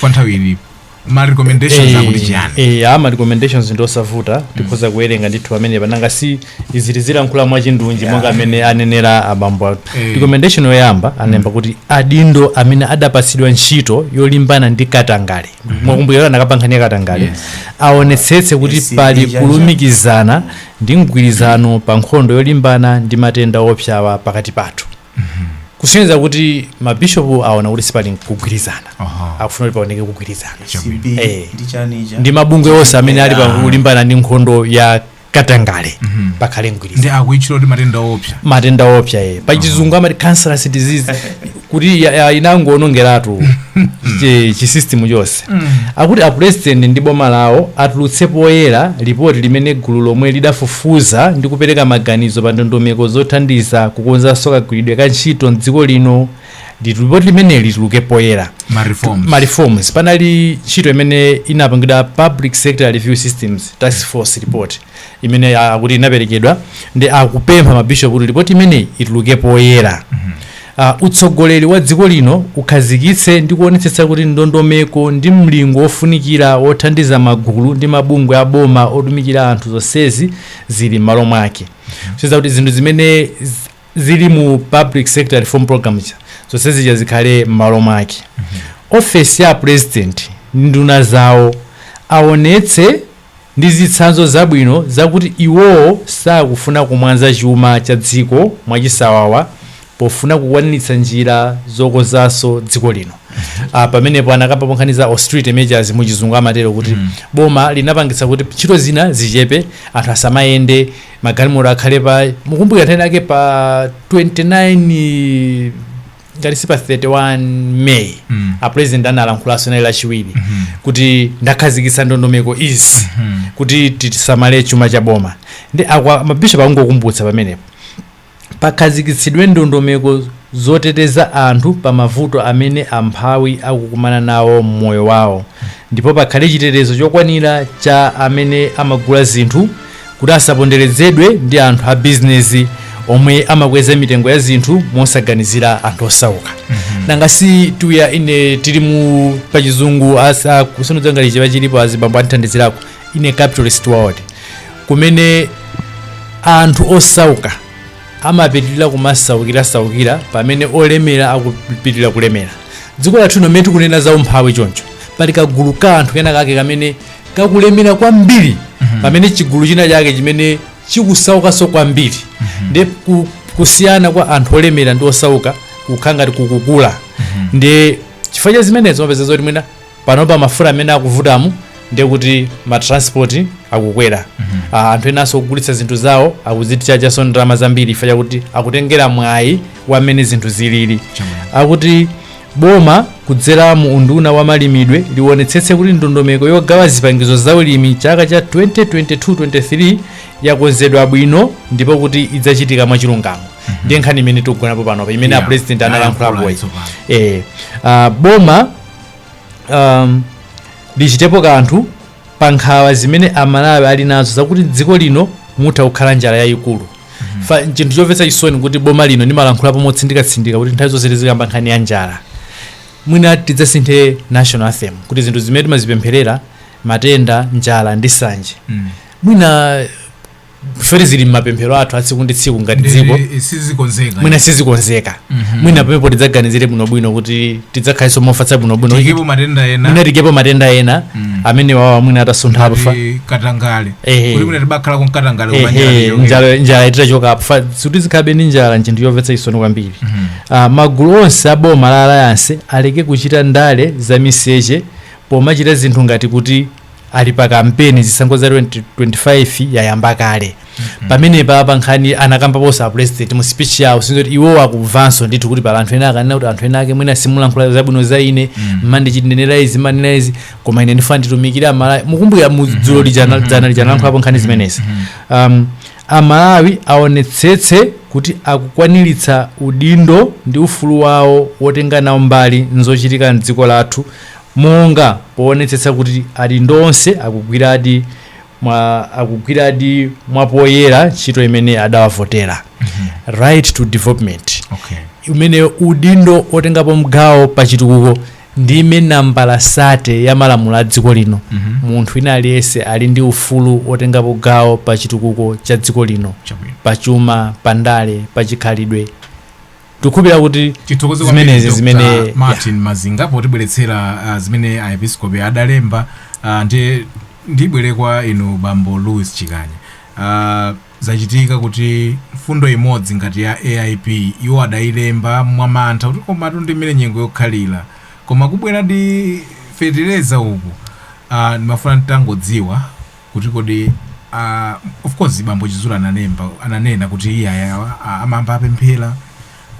kwa nthawi ilipo ma recommendations Eh, akuti chiyani eh, ama recommendations ndi osavuta tikhoza kuwerenga ndithu amene apa nanga si izi zili zikulankhula mwachindunji monga amene anenera abambo athu Eh. recommendation yoyamba analemba kuti adindo amene adapatsidwa ntchito yolimbana ndi katangale mwakumbukira kuti anakamba nkhani ya katangale Yes. aonetsetse kuti Yes, pali yes, yes. kulumikizana ndi mgwirizano pa nkhondo yolimbana ndi matenda oopsawa pakati pathu kusonyeza kuti mabishopu aona kuti sipali kugwirizana Aha. akufuna kuti paoneke kugwirizana Chabwino. ACB Eh. ndi chanija ndi mabungwe onse amene ali pa kulimbana ndi nkhondo ya katangale pakhale mgwirizano ndi akuitchula kuti matenda oopsa matenda oopsa ye pachizungu amati cancerous disease kuti ya- ya- inangoonongeratu chi- chisystem chonse Trust mm. akuti a president ndi boma lawo atulutse poyera lipoti limene gulu lomwe lidafufuza ndi kupereka maganizo pa ndondomeko zothandiza kukonzanso kagwiridwe ka ntchito mdziko lino Litu- lipoti limeneli lituluke poyera ma reforms ma reforms panali ntchito imene inapangidwa public sector review systems task force report imene ya- akuti inaperekedwa ndi akupempha mabishopu kuti lipoti imeneyi ituluke poyera uh, utsogoleri wa dziko lino ukhazikitse ndi kuonetsetsa kuti ndondomeko ndi mlingo wofunikira wothandiza magulu ndi mabungwe a boma otumikira anthu zonsezi zili m'malo mwake kusonyeza kuti zinthu zimene z- zili mu public sector reform program ija zonse zija zikhale m'malo mwake ofesi ya apresident ndi nduna zawo aonetse ndi zitsanzo zabwino zakuti iwowo sakufuna kumwanza chuma cha dziko mwachisawawa pofuna kukwaniritsa njira zokonzanso dziko lino. Ah, pamenepo anakambapo nkhani za austerity measures mu chizungu amatero kuti boma linapangitsa kuti ntchito zina zichepe anthu asamayende magalimoto akhale pa mukumbukira nthawi inayake pa 29 ngati si pa 31 may Mm. a president analankhulanso linali lachiwiri Mhm. kuti ndakhazikitsa ndondomeko izi Mhm. kuti tisamale chuma cha boma ndiye apa mabishop akungokumbutsa pamenepo pakhazikitsidwe ndondomeko zoteteza anthu pa mavuto amene amphawi akukumana nawo mmoyo wawo ndipo pakhale chitetezo chokwanira cha amene amagula zinthu kuti asaponderezedwe ndi anthu a bizinesi omwe amakweza mitengo ya zinthu mosaganizira anthu osauka nanga si dziko lino tili mu pachizungu asa kusonodzangaliche pachilipo azibambo andithandizirako ine capitalist world kumene anthu osauka amapitirira kumasaukira saukira pamene olemera akupitirira kulemera dziko lathu lino mmene tikunena za umphawi choncho pali kagulu ka anthu kenakake kamene kakulemera kwambiri pamene chigulu china chake chimene chikusaukanso kwambiri ndiye kusiyana kwa anthu olemera ndi osauka kukhala ngati kukukula ndiye chifukwa cha zimenezo umapeza zoti mwina panopa mafuta amene akuvutamu ndiye kuti matransport akukwera Ah, anthu enanso ogulitsa zinthu zawo akuzitchajanso ndalama zambiri chifukwa chakuti akutengera mwayi wa mmene zinthu zilili akuti Boma kudzera mu unduna wa malimidwe liwonetsetse kuti ndondomeko yogawa zipangizo za ulimi chaka cha 2022-23 yakonzedwa bwino ndipo kuti idzachitika mwachilungamo ndiye nkhani imene tikugonapo panopa imene Yeah. a president analankhulapoyi Ayankhula tsopano. eh, ah, boma um, lichitepo kanthu pa nkhawa zimene amalawi ali nazo zakuti mdziko lino mutha kukhala njala yayikulu Fa- chinthu chomvetsa chisoni kuti boma lino ndimalankhulapo motsindikatsindika kuti nthawi zonse tizikamba nkhani ya njala mwina tidzasinthe national anthem kuti zinthu zimene timazipempherera matenda njala ndi nsanje mwina ifeti zili m'mapemphero athu atsiku ndi tsiku ngati dziko Ndi- sizikonzeka mwina sizikonzeka mwina pamenepo tidzaganizire bwinobwino kuti tidzakhalenso mofatsa bwinobwino tiikepo matenda ena mwina tiikepo matenda ena amenewawa mwina atasuntha apa pa ndi katangale Ehe. kuti mwina tibakhala ku mkatangale Ehe, kumanjala njala njala itachoka apo Fa- kuti zikhalabe ndi njala nchinthu chomvetsa chisoni kwambiri Ah, magulu onse a boma la alliance aleke kuchita ndale za miseche pomachita zinthu ngati kuti ali pa kampeni zisankho za 2025 yayamba kale pamenepapa nkhani anakambaponso a president mu speech yawo zoti iwo akuvanso ndithu kuti pali anthu ena akunena kuti anthu ena ake mwina simulankhula zabwino za ine mumandinenera izi mumanena izi koma ine ndifuna nditumikire amalawi mukumbukira dzulo lija dzana lija analankhulapo nkhani zimenezi um, amalawi aonetsetse kuti akukwaniritsa udindo ndi ufulu wawo wotenga nawo mbali nzochitika mdziko lathu monga poonetsetsa kuti adindo onse akugwiradi mwa, akugwiradi mwapoyera ntchito imene adawavotera right to development okay umene udindo otengapo mgawo pa chitukuko ndi imene nambala sate ya malamulo a dziko lino munthu wina aliyense ali ndi ufulu otengapo gawo pa chitukuko cha dziko lino chabwino pa chuma pa ndale pa chikhalidwe Tikhulupirira kuti Tithokoze kwambiri zimenezi Dr. zimene ya. Martin Mazinga potibweretsera ah, zimene aepiskopi adalemba ah, ndiye ndibwere kwa inu bambo Louis Chikanya. Ah, zachitika kuti mfundo imodzi ngati ya AIP iwo adailemba mwamantha kuti komatu ndi mmene nyengo yokhalira koma kubwera ndi fetereza uku ah, ndimafuna nditangodziwa kuti kodi a of course bambo chizula ananena ananena kuti iyayi awa a- amayamba apemphera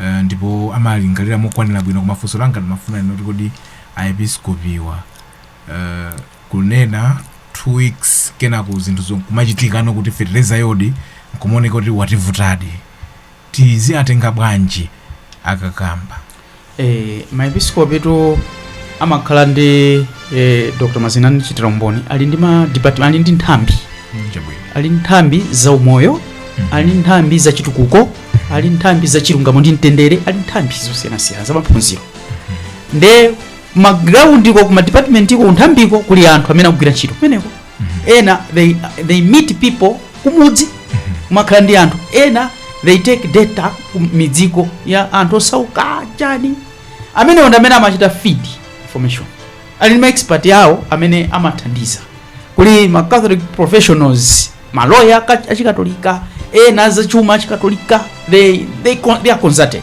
eh, ndipo amalingalira mokwanira bwino koma funso langa ndimafuna nnene kuti kodi aepiskopiwa eh, kunena two weeks kenako zinthu zo- kumachitikano kuti fetereza yodi nkumaoneka kuti wativutadi tiziatenga bwanji akakamba. Eh, maepiskopitu amakhala ndi eh, dr mazinga andichitira umboni ali ndi ma department ali ndi nthambi chabwino ali ndi nthambi za umoyo ali ndi nthambi za chitukuko ali ndi nthambi za chilungamo ndi mtendere ali ndi nthambi zosiyanasiyana za maphunziro nde magrawundiko ku madipatimenti iko kunthambiko kuli anthu amene akugwira ntchito kumeneko ena they, they meet people kumudzi amakhala ndi anthu ena they take data ku midziko ya anthu osauka chani amene ndi amene amachita feed information ali ndi ma expert yawo amene amathandiza kuli ma catholic professionals maloya aka- achikatolika ena azachuma achikatolika they, they, con- they are consulted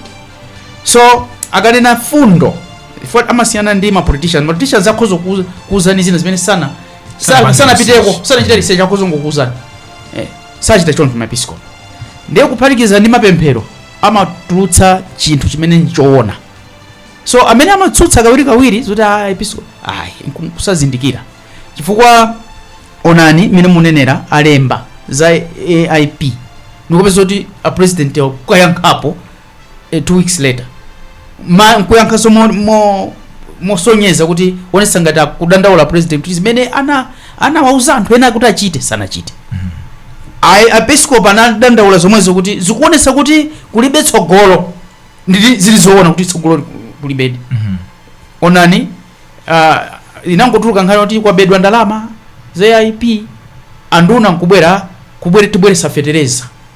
so akanena mfundo chifukwa amasiyana ndi mapoliticians mapoliticians akhoza kuuza- kuuzani zina zimene sana Sana- sanapiteko sanachita research akhoza kungokuuzani eh, sachita choncho maepiskopi ndiye kuphatikiza ndi mapemphero amatulutsa chinthu chimene nchoona so amene amatsutsa kawirikawiri zoti a episkopi ayi nku- kusazindikira chifukwa onani mmene munenera alemba za aip ndikupezeka kuti apresident kuyankhapo eh, two weeks later ma nkuyankhanso mo- mo- mosonyeza kuti aonesa ngati akudandaula president kuti zimene ana anawauza anthu ena kuti achite sanachite Ayi- aepiskop anadandaula zomwezo kuti zikuonesa kuti kulibe tsogolo ndi zili zoona kuti tsogolo li- kulibedi onani uh, inangotuluka nkhani kuti kwabedwa ndalama za aip anduna nkubwera kubwere tibweresa fetereza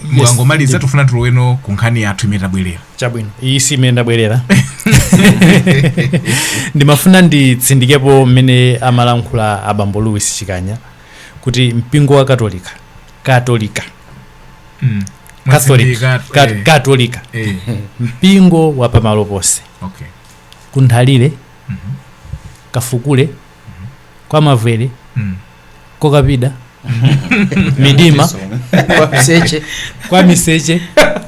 Dr. Mazinga mwangomaliza tifuna tiloweno ku nkhani yathu imene tabwerera chabwino iyi si imene ndabwerera ndimafuna nditsindikepo mmene amalankhula abambo louis chikanya kuti mpingo wa katolika katolika Mm. catholic Mwatsindika- Kat- eh, katolika eh, mpingo wa pamalo ponse okay. kunthalire kafukule kwa mavwere Mm. kwa kapida midima kwa miseche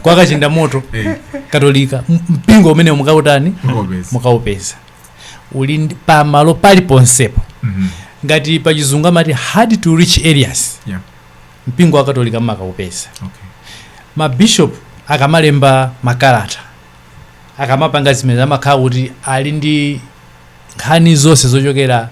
kwa kachinda moto Eh, katolika M- mpingo umene mukautani mukaupeza uli pamalo pali ponsepo Mhm. ngati pachizungu amati hard to reach areas Yeah. mpingo wakatolika mumakaupeza Okay. mabishop akamalemba makalata akamapanga zimene amakhala kuti ali ndi nkhani zonse zochokera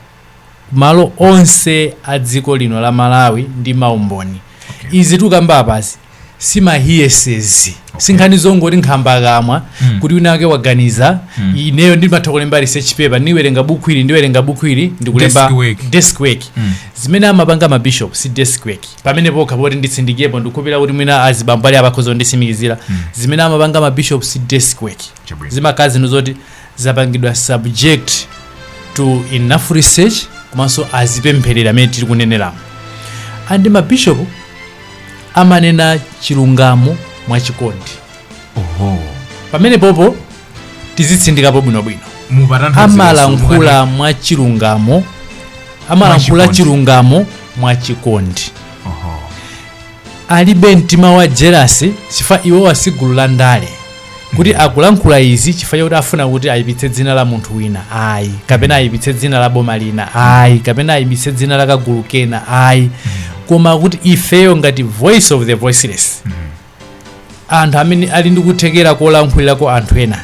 malo onse a dziko lino la malawi ndi maumboni okay. izi tikukamba apazi simahiyesezi okay. sinkhani zongoti nkhambakamwa mm. kuti wina wake waganiza mm. ineyo ndimatha kulemba research paper ndiwerenga buku ili ndiwerenga buku ili ndikulemba desk work mm. zimene amapanga mabishop si desk work pamenepokha poti nditsindikirepo ndikukhulupirira kuti mwina azibambo ali apa akhoza kunditsimikizira mm. zimene amapanga mabishop si desk work zimakhala zinthu zoti zapangidwa subject to enough research komanso azipempherera mmene tiri kuneneramo and mabishopu amanena chilungamo mwachikondi oho pamenepopo tizitsindikapo bwinobwino amalankhula mwachilungamo amalankhula Mwachikondi. chilungamo mwachikondi alibe mtima wa jelasi chifukwa iwowa si gulu la ndale kuti akulankhula izi chifukwa chakuti afuna kuti ayipitse dzina la munthu wina ayi kapena ayipitse dzina la boma lina ayi kapena ayipitse dzina la kagulu kena ayi koma kuti ifeyo ngati voice of the voiceless anthu amene ali ndi kuthekera kolankhulirako anthu ena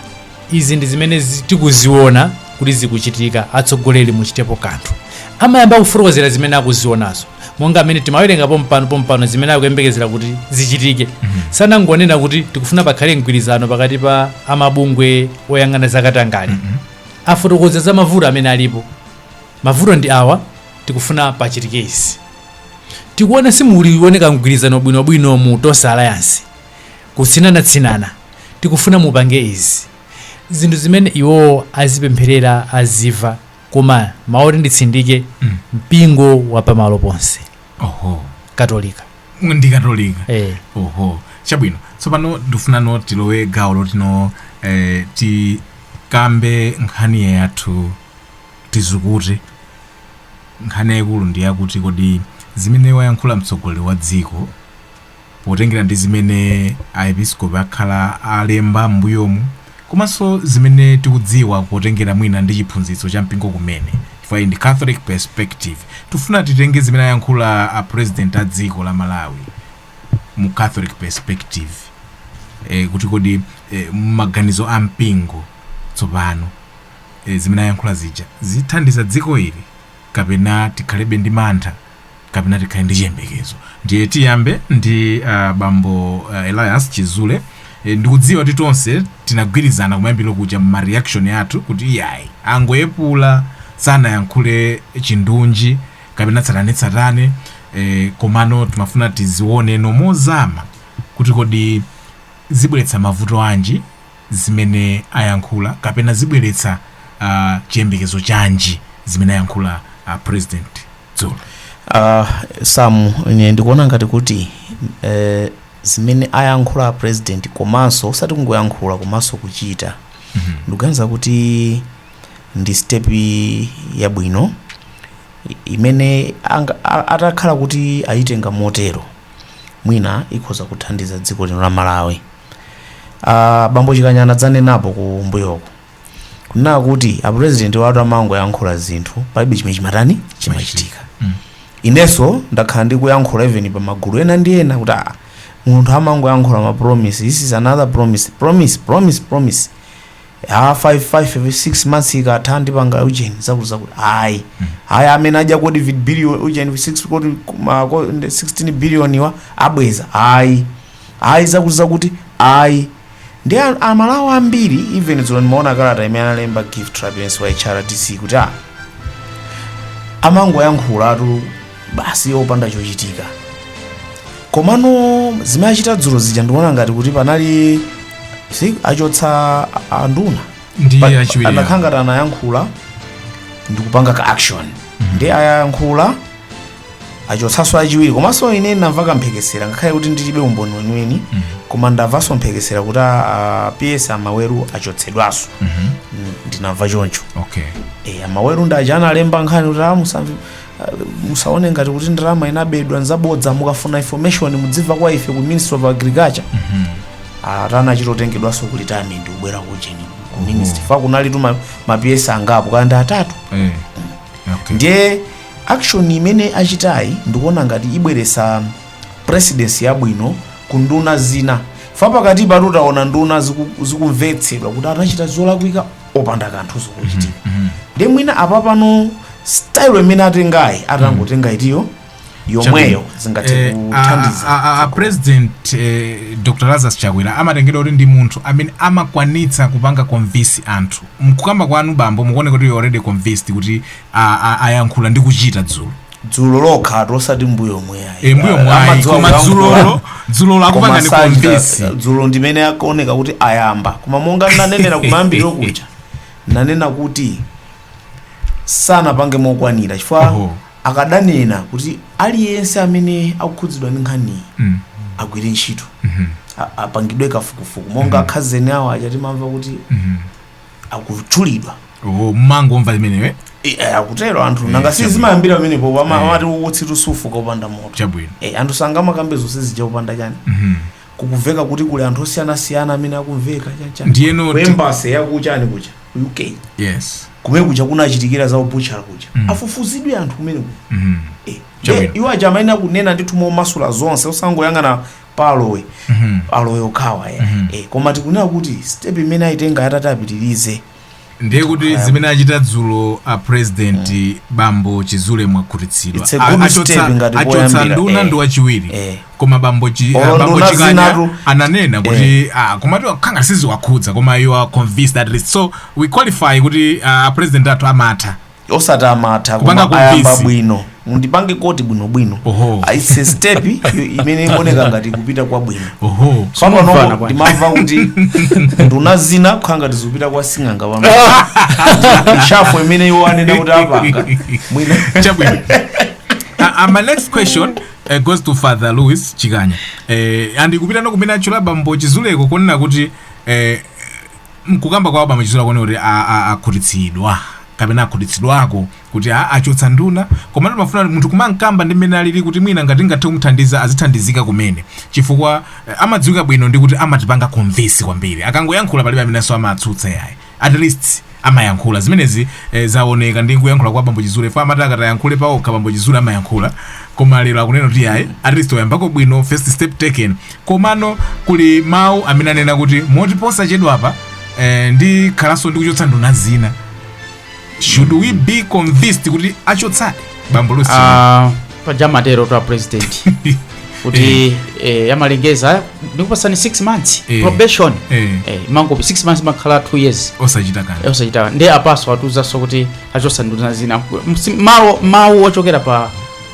izi ndi zimene tikuziona kuti zikuchitika atsogoleri muchitepo kanthu amayamba kufotokozera zimene akuzionazo monga mmene timawerenga pompano pompano zimene akuyembekezera kuti zichitike sanangonena kuti tikufuna pakhale mgwirizano pakati pa mabungwe oyang'ana zakatangale afotokoza za mavuto amene alipo mavuto ndi awa tikufuna pachitike izi tikuona simulikuoneka mgwirizano bwinobwino mu tonse alliance Kutsinanatsinana, tikufuna mupange izi, zinthu zimene iwo azipempherera, aziva, koma mawu oti nditsindike, mpingo wa pamalo ponse, oho Katolika. ndi katolika Eh. oho chabwino tsopano ndikufunano tilowe gawo lotino eh, tikambe nkhani yathu tizukute nkhani yayikulu ndi yakuti kodi zimene wayankhula mtsogoleri wa dziko potengera ndi zimene Aepiskopi akhala alemba m'mbuyomu komanso zimene tikudziwa potengera mwina ndi chiphunzitso cha mpingo kumene chifukwa iyi ndi Catholic perspective tifuna titenge zimene ayankhula a President a dziko la Malawi mu Catholic perspective eh, kuti kodi eh, maganizo a mpingo tsopano eh, zimene ayankhula zija zithandiza dziko lili kapena tikhalebe ndi mantha kapena tikhale ndi chiyembekezo ndiye tiyambe ndi uh, bambo uh, elias chizule e, ndikudziwa kuti tonse tinagwirizana kumayambiro kuja ma reaction athu kuti iyayi angoyepula sanayankhule chindunji kapena tsatanetsatane e, komano timafuna tizione mozama kuti kodi zibweretsa mavuto anji zimene ayankhula kapena zibweretsa uh, chiyembekezo chanji zimene ayankhula uh, president dzulo uh, samu ine ndikuona ngati kuti eh, zimene ayankhula a president komanso osati kungoyankhula komanso kuchita Mhm. ndikuganiza kuti ndi step yabwino i- imene anga- a- atakhala kuti ayitenga motero mwina ikhoza kuthandiza dziko lino la malawi Ah, bambo chikanya adzanenapo ku mbuyoku kunena kuti apurezidenti watu amangoyankhula zinthu palibe chimene chimatani chimachitika inenso ndakhala ndikuyankhula even pa magulu ena ndi ena kuti ah, munthu amangoyankhula ma promise this is another promise promise promise promise ah, 5 5 6 months ikatha ndipanga ujeni zakuti zakuti ayi ayi amene adya covid billion ujeni 6 kodi ma- ko- 16 billion wa abweza ayi ayi zakuti zakuti ayi ndi a- amalawi ambiri even dzulo ndimaona kalata imene analemba gift trapence wa hrdc kuti a amangoyankhulatu basi opanda chochitika komano zimene achita dzulo zija ndikuona ngati kuti panali step achotsa a- anduna ndi pa achiwiri awo. anakhala ngati anayankhula ndikupanga ka action ndi ayankhula achotsanso achiwiri komanso ine ndamva kamphekesera ngakhale kuti ndilibe umboni weniweni koma ndamvanso mphekesera kuti a- a ps a maweru achotsedwanso Mm, ndinamva choncho okay e, a maweru ndi aja analemba nkhani kuti "Ah, musamve- ah, musaone ngati kuti ndalama inabedwa nzabodza mukafuna information mudzimva kwa ife ku ministry of agriculture anachita kutengedwanso ku retirement kubwera kujeni ku ministry chifukwa kunalitu ma- ma ps angapo kaya ndi atatu Eh, okay ndiye Action imene achitayi ndikuona ngati ibweretsa presidency yabwino ku nduna zina fa pakatipatu taona nduna ziku- zikumvetsedwa kuti anachita zolakwika opanda kanthu kochitika ndiye mwina apa pano style imene atengayi atangotenga itiyo yomweyo zingathe Eh, a- a- kuthandiza a- a- a president eh, dr lazarus chakwera amatengedwa kuti ndi munthu amene amakwanitsa kupanga convince anthu mkukamba kwanu bambo mukuoneka kuti you already convinced kuti a- a- ayankhula ndi kuchita dzulo dzulo lokhatu osati mbuyomu ayi e, mbuyomu ayi koma dzulolo dzulolo akupangani convince dzulo ndimene akuoneka kuti ayamba koma monga nanenera kumayambiriro kuja nanena kuti sanapange mokwanira chifukwa Oho. akadanena kuti aliyense amene akukhudzidwa ndi nkhaniyi Mm. agwire ntchito A- apangidwe kafukufuku monga akhazeni awo aja timamva kuti Mhm. akutchulidwa oh mumangomva imeneyo eh? Eh, eh, akutero anthu nanga si chabwino. zimayambira pamenepo pama- Eh. amati utsitu sufuka opanda moto chabwino Eh, anthu sangamakambe zonse zija opanda chani Mhm. kukumveka kuti kuli anthu osiyanasiyana amene akumveka chanchani ndiyeno ti- ku embassy yakuchani kuja ku uk yes kumene kuja kunachitikira za ubuchara kuja Mm. afufuzidwe anthu kumene kuja Mhm. Eh, Chabwino. eh, iwo aja amayenera kunena ndithu momasula zonse osangoyang'ana pa alowe Mhm. alowe okhawa eh. Mhm. eh, koma tikunena kuti step imene ayitenga atati apitirize ndiye kuti zimene achita dzulo a president bambo chizule mwakhutitsidwa It's a A- good achotsa- step ngati achotsa poyambira, nduna eh. ndi wachiwiri Eh. koma bambo chi- Olo ah, bambo nduna chikanya zinatu- ananena kuti ah, komatu akhanga siziwakhudza koma you are convinced at least so we qualify kuti ah, a president athu amatha osati amatha Kupanga koma ayamba convince. bwino mundipange quote bwinobwino Oho. Ah, it's a step yo- imene ikuoneka ngati kupita kwa bwino oho Tamvana panopo bwana. ndimamva kuti nduna zina kukhala ngati zikupita kwa sing'anga pa reshuffle imene iwo anena kuti apanga mwina chabwino Uh, uh, my next question uh, goes to father louis chikanya uh, ndikupitano kumene atchula bambo chizuleko kunena kuti uh, M'kukamba kwa bambo chizule akuoneka kuti a, a, akhutitsidwa kapena akhutitsidwako kuti a, achotsa nduna komatu pamafuna munthu kumamkamba ndi mmene alili kuti mwina ngati ngathe kumthandiza azithandizika kumene chifukwa eh, amadziwika bwino ndi kuti amatipanga convince kwambiri akangoyankhula palibe amenenso amatsutsa yayi at least amayankhula zimenezi eh, zaoneka ndi kuyankhula kwa bambo chizule fa amati akatayankhule paokha bambo chizule amayankhula koma lero akunena kuti yayi at least oyambako bwino first step taken Komano kuli mawu amene anena kuti moti posachedwapa eh, ndikhalanso ndikuchotsa nduna zina. Should we be convinced kuti achotsadi bambo Lucy? Ah, paja matero to a president kuti eh, amalengeza ndikupatsani 6 months Eh. probation Eh. Eh, amangoti 6 months amakhala 2 years osachita kanthu. Eh, osachita ndiye apanso atiuzanso kuti achotsa nduna zina Msi- mawu mawu ochokera pa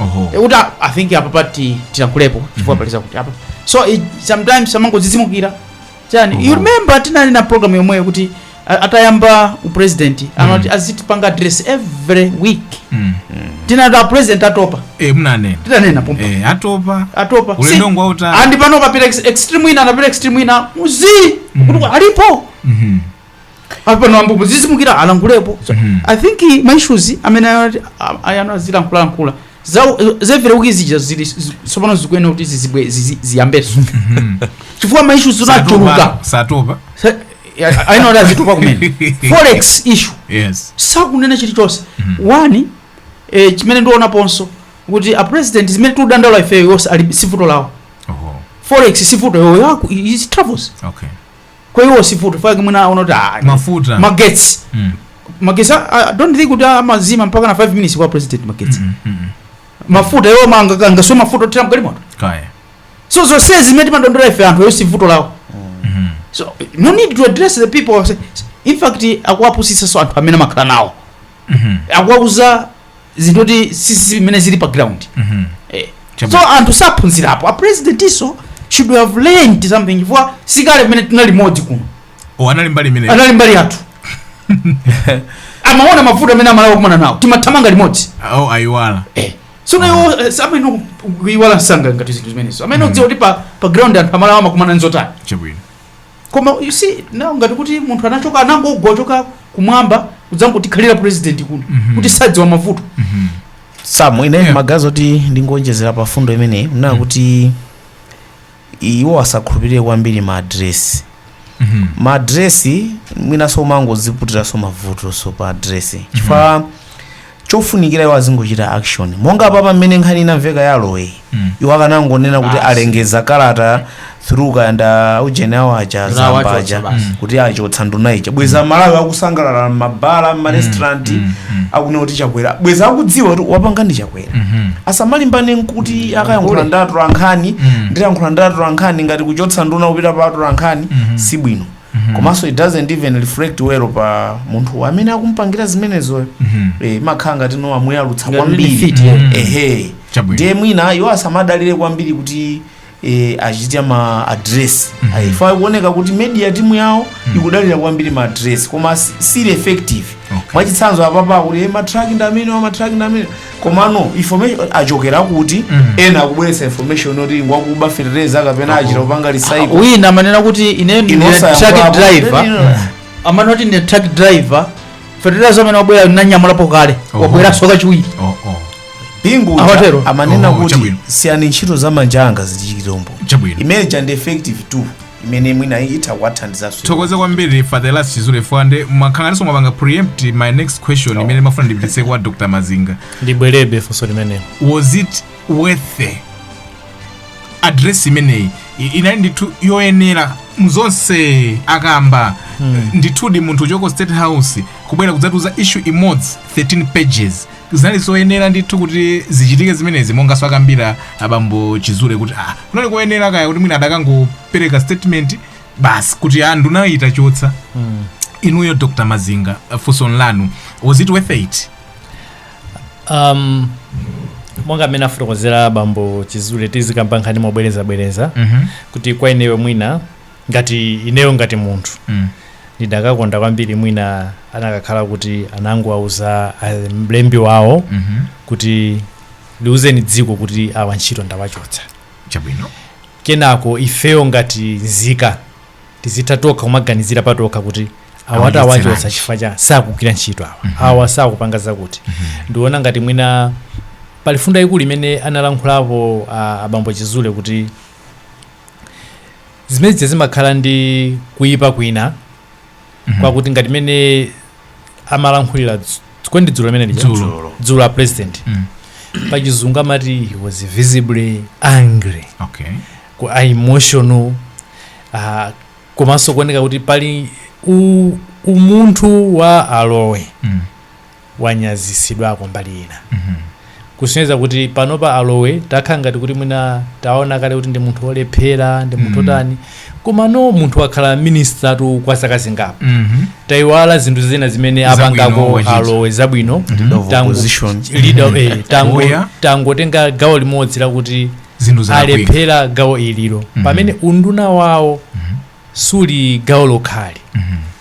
Oho. Eh, kuti i think apa pati tilankhulepo chifukwa paliza kuti apa so it, sometimes amangodzidzimukira chani you remember tinali na program yomweyo kuti a- atayamba upresident anati azitipanga address every week Mm. tinati a president atopa Eh, mnanena tinanena pompa Eh, atopa atopa ulendo Si- ngwautali and pano anapita ex- extreme wina anapita extreme wina ndiuzi kuti alipo Mhm. apano ambubu dzidzimukira alankhulepo so, mm. i think ma issues amene ayenera azilankhula lankhula zevere kuti zija zili tsopano zikuyenera kuti zizibwe zizi- ziyambenso chifukwa ma issues zinachuluka satopa Sa- ya- ayino kuti azitupa kumene forex issue yes sakunena chilichonse one eh, chimene ndionaponso kuti a president zimene tikudandaula ifeyo zonse ali sivuto lawo oho forex sivuto iwowo ya ku his travels okay kwa iwo sivuto chake mwina aona kuti ah, mafuta magetsi Mm. magetsi ah, I don't think kuti amazima mpaka na 5 minutes kwa president magetsi Mm, mm, mm. mafuta iwo manga angaswe mafuta athera mgalimoto kaya so zonse zimene timadandaula ife anthu iwo sivuto lawo Mhm. so no need to address the people in fact akuwapusitsanso anthu amene amakhala nawo Mhm. akuwauza zinthu kuti si zimene zili pa ground Mhm. Eh. Chabe. so anthu saphunzirapo a president iwonso should have learned something chifukwa sikale pamene tinali limodzi kuno Oh, anali mbali imene anali mbali yathu amaona mavuto amene a Malawi akumana nawo timathamanga limodzi oh ayiwala Eh. so nawo samayenera kuiwala msanga ngati zinthu zimenezo amayenera kudziwa kuti pa pa ground anthu a Malawi amakumana nzotani chabwino Koma you see now ngati kuti munthu anachoka anangogwa kuchoka kumwamba kudzangotikhalira president kuno kuti sadziwa mavuto. Sam ine Yeah. maganizo oti ndingonjezera pa fundo imeneyi unena kuti iwo asakhulupirire kwambiri ma adresi Mhm. ma adresi mwinaso amangoziputiranso mavutonso pa adresi chifukwa chofunikira iwo azingochita action monga apapa mmene nkhani inamveka ya aloeyi iwo akanangonena kuti Basi. alengeza kalata through kaya ndi aujeni awo aja Nduna a Zamba wachotsa aja basi. kuti achotsa nduna ija bwenzi a Malawi akusangalala mmabala mmarestaurant akunena kuti Chakwera bwenzi akudziwa kuti wapanga ndi Chakwera asamalimbane nkuti akayankhula ndi atolankhani ndiyankhula ndi atolankhani ngati kuchotsa nduna kupita pa atolankhani si bwino Mhm. komanso it doesn't even reflect well pa munthu amene akumpangira zimenezoyo Mhm. eh, imakhala ngatino amuyalutsa Ngati kwambiri benefit, yeah. Mhm. ehe Chabwino. ndiye mwina iwo asamadalire kwambiri kuti eh, achite ma address Mhm. chifukwa ikuoneka kuti media timu yawo ikudalira kwambiri ma address koma si- sili effective Okay. mwachitsanzo apapa kuti eh, matraki ndi amene matraki ndi amene komano information ikuchokera kuti Mm. ena akubweretsa information yoti ngwakuba fertilizer kapena achita kupanga recycle wina amanena kuti ine ndine truck yankhulapo. driver Ndine- Mm. amanena kuti ndine truck driver fertilizer amene wabwera ndinanyamulapo kale Oho. wabweranso kachiwiri Oh, oh. bingu uja Amatero. amanena Oh, kuti chabwino. siyani ntchito za manja anga zichitire umboni Chabwino. imene ija ndi effective tool imene mwina itha kuwathandizanso tithokoze kwambiri Father Elias Chizule fwande mwakhalanso mwapanga preempt my next question imene ndimafuna ndipititse kwa dr mazinga ndibwerebe ndi funso limenelo was it worth it? address imeneyi i- inali ndithu yoyenera muzonse akamba ndithudi munthu kuchoka ku state house kubwera kudzatiuza issue imodzi 13 pages zinali zoyenera ndithu kuti zichitike zimenezi monga mwakambira abambo chizule kuti ah kunali koyenera kaya kuti mwina adakangopereka statement basi kuti ah nduna tayichotsa inuyo dr mazinga uh, funso lanu was it worth it um, monga mmene afotokozera bambo chizule tisamakambe nkhani mobwerezabwereza Mhm. kuti kwa ineyo mwina ngati ineyo ngati munthu Mm. ndidakakonda kwambiri mwina anakakhala kuti anangowauza ah, mlembi wawo Mhm. kuti liuzeni dziko kuti awa ntchito ndawachotsa chabwino kenako ifeyo ngati nzika tizitha tokha kumaganizira patokha kuti awati Awachotsa awachotsa lanji. chifukwa choti sakugwira ntchito awa awa sakupanga zakuti ndiona ngati mwina pali mfundo yaikulu imene analankhulapo ah, abambo chizule kuti zimene zija zimakhala ndi kuyipa kwina kwakuti ngati mene amalankhulira kodi ndi dzulo limene lija Dzulo. Dzulo. dzulo a president Mm. pachizungu amati he was visibly angry okay ku a emotional uh, komanso kuoneka kuti pali u, umunthu wa a Lowe mm. wanyazisidwako mbali ina kusonyeza kuti panopa a Lowe takhala ngati kuti mwina taona kale kuti ndi munthu olephera ndi munthu Mm. otani komano munthu wakhala ministatu kwa zaka zingapo Mhm. tayiwala zinthu zina zimene Zabwino apangako achita. a Lowe zabwino Leader of Tango- opposition. leader, eh, tango- Oya. tangotenga gawo limodzi lakuti zinthu zalakwika alephera gawo ililo Mhm. pamene unduna wawo suli gawo lokhali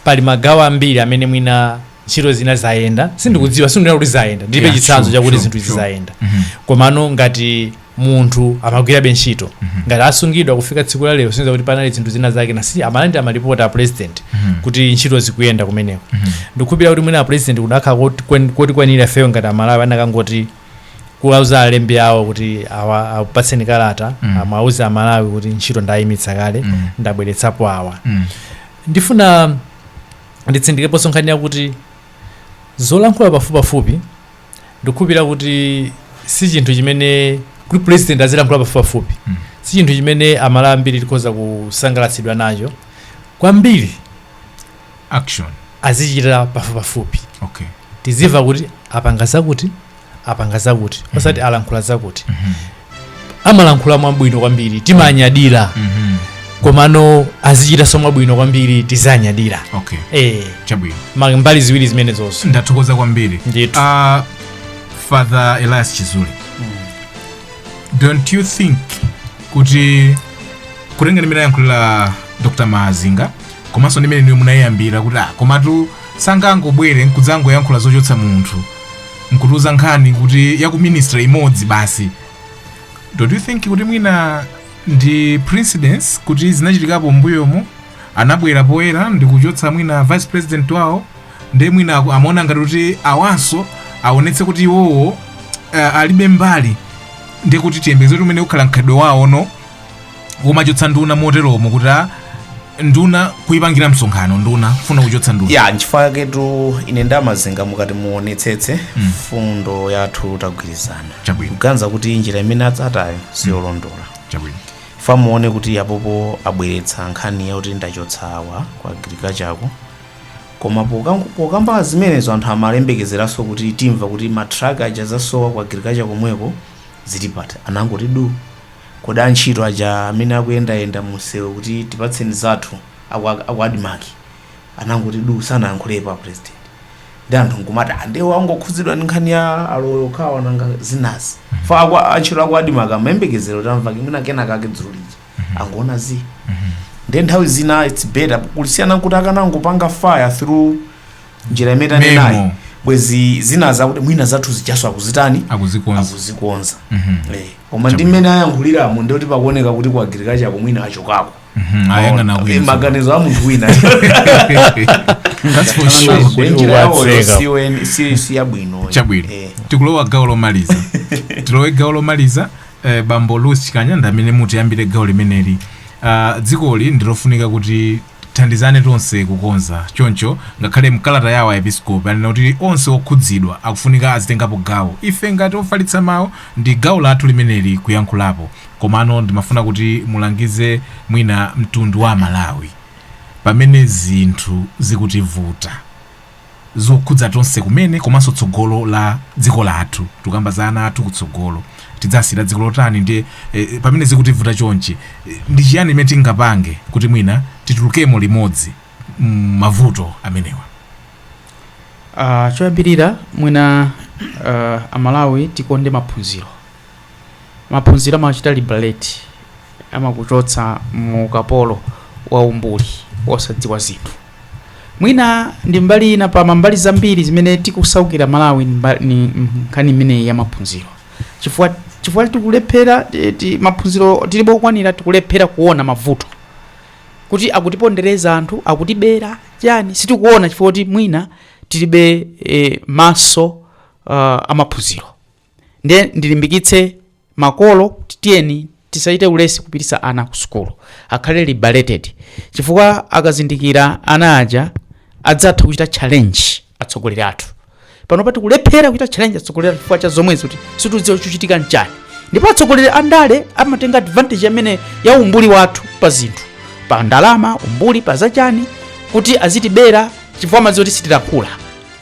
pali magawo ambiri amene mwina ntchito zina zayenda sindikudziwa sindinena kuti zayenda ndilibe Yeah, chitsanzo sure, chakuti sure, zinthu izi sure. zayenda Mhm. komano ngati munthu amagwirabe ntchito ngati asungidwa kufika tsiku la lero si nzakuti panali zinthu zina zakenanso amalandira malipoti a president kuti ntchito zikuyenda kumeneko ndikukhulupirira kuti mwina a president kunakakhala kotikwanira ifeyo ngati amalawi anakangoti kuwauza alembi awo kuti awa apatseni kalata Mm. mm. angowauza amalawi kuti ntchito ndayimitsa kale Mm. mm. ndabweretsapo awa Mm. ndifuna nditsindikireponso nkhani yakuti zolankhula pafupipafupi ndikukhulupira kuti si chinthu chimene kuti president azilankhula pafupipafupi Mm. si chinthu chimene amalawi ambiri tikhoza kusangalatsidwa nacho kwambiri action azichita pafupipafupi okay tizimva kuti apanga zakuti apanga zakuti osati alankhula zakuti Mhm. amalankhula mwabwino kwambiri timanyadira Mhm. komano azichitanso mwabwino kwambiri tizanyadira okay eh chabwino ma- mbali ziwiri zimenezonso ndathokoza kwambiri Ndithu. uh, father elias chizule don't you think kuti kutenga ndi mmene ayankhulira dr mazinga komanso ndi mmene inuyo munayiyambira kuti ah, komatu sangangobwere nkudzangoyankhula zochotsa munthu nkutiuza nkhani kuti ya ku ministry imodzi basi don't you think kuti mwina ndi precedence kuti zinachitikapo mbuyomo anabwera poyera ndi kuchotsa mwina vice president wawo ndiye mwina aku- amaona ngati kuti awanso aonetse kuti iwowo uh, alibe mbali ndiye kuti tiyembekeze kuti umenewu ukhala mkhalidwe wawo no kumachotsa nduna moteromo kuti nduna kuyipangira msonkhano nduna kufuna kuchotsa nduna ya nchifukwa chaketu ine nda mazinga mukati muonetsetse mfundo yathu tagwirizana Chabwino. kuganiza kuti njira imene atsatayo siyolondola chabwino chifukwa muone kuti apopo abweretsa nkhani yakuti ndachotsa wa ku agriculture koma pokang- pokamba zimenezo anthu amayembekezeranso kuti timve kuti matraka aja asowa ku agriculture komweko zili pati anangoti du Kodi antchito aja amene akuyendayenda mumsewu kuti tipatseni zathu aku aku admarc anangoti duu sanayankhulepo a president ndiye anthu nkumati ah ndiye angokhudzidwa ndi nkhani ya a lowe okhawa nanga zinazi chifukwa aku antchito aku admarc amayembekezera kuti amveko mwina kenakake dzulo lija angoona zii ndiye nthawi zina its better kulisiyana nkuti akanangopanga fire through njira imene tanenayi Memo. bwezi zinazi akuti mwina zathu zijanso akuzitani akuzikonza akuzikonza Mhm. Eh. koma ndi mmene ayankhuliramo ndi kuti pakuoneka kuti ku agricultureko mwina achokako Mhm, ayang'ana Eh, kuyizo maganizo a munthu wina That's for sure. Kuti Kuti njira yawoyo watseka. si weni- si- si yabwino chabwino Eh. tikulowa gawo lomaliza tilowe gawo lomaliza eh, bambo louis chikanya ndi amene mutiyambire gawo limeneli Ah, dzikoli ndilofunika kuti Tithandizane tonse kukonza. Choncho, ngakhale mkalata yawo Aepiskopi anena kuti onse okhudzidwa akufunika azitengapo gawo. Ife ngati ofalitsa mau ndi gawo lathu limeneli kuyankhulapo. Komano ndimafuna kuti mulangize mwina mtundu wa Amalawi pamene zinthu zikutivuta. zokhudza tonse kumene komanso tsogolo la dziko lathu tukamba za ana athu kutsogolo tidzasiyira dziko lotani ndi eh, pamene zikutivuta chonchi eh, ndi chiyani imene tingapange kuti mwina titulukemo limodzi m'mavuto amenewa Ah, choyambirira mwina ah, amalawi tikonde maphunziro maphunziro amachita liberate amakuchotsa mu ukapolo wa umbuli wosadziwa zinthu mwina ndi mbali ina pa mambali zambiri zimene tikusaukira malawi ndi mba- ni mm, nkhani imeneyi ya maphunziro chifukwa chifukwa tikulephera ti- ti- maphunziro tilibe okwanira tikulephera kuona mavuto kuti akutipondereza anthu akutibera chani sitikuona chifukwa kuti mwina tilibe eh, maso uh, amaphunziro ndiye ndilimbikitse makolo kuti tiyeni tisachite ulesi kupititsa ana ku sukulu akhale liberated chifukwa akazindikira ana aja adzatha kuchita challenge atsogoleri athu panopa tikulephera kuchita challenge atsogoleri athu chifukwa cha zomwezi kuti situdziwa chochitika nchani ndipo atsogoleri a ndale amatenga advantage imene ya umbuli wathu pa zinthu pa ndalama umbuli pa zachani kuti azitibera chifukwa amadziwa kuti sitilankhula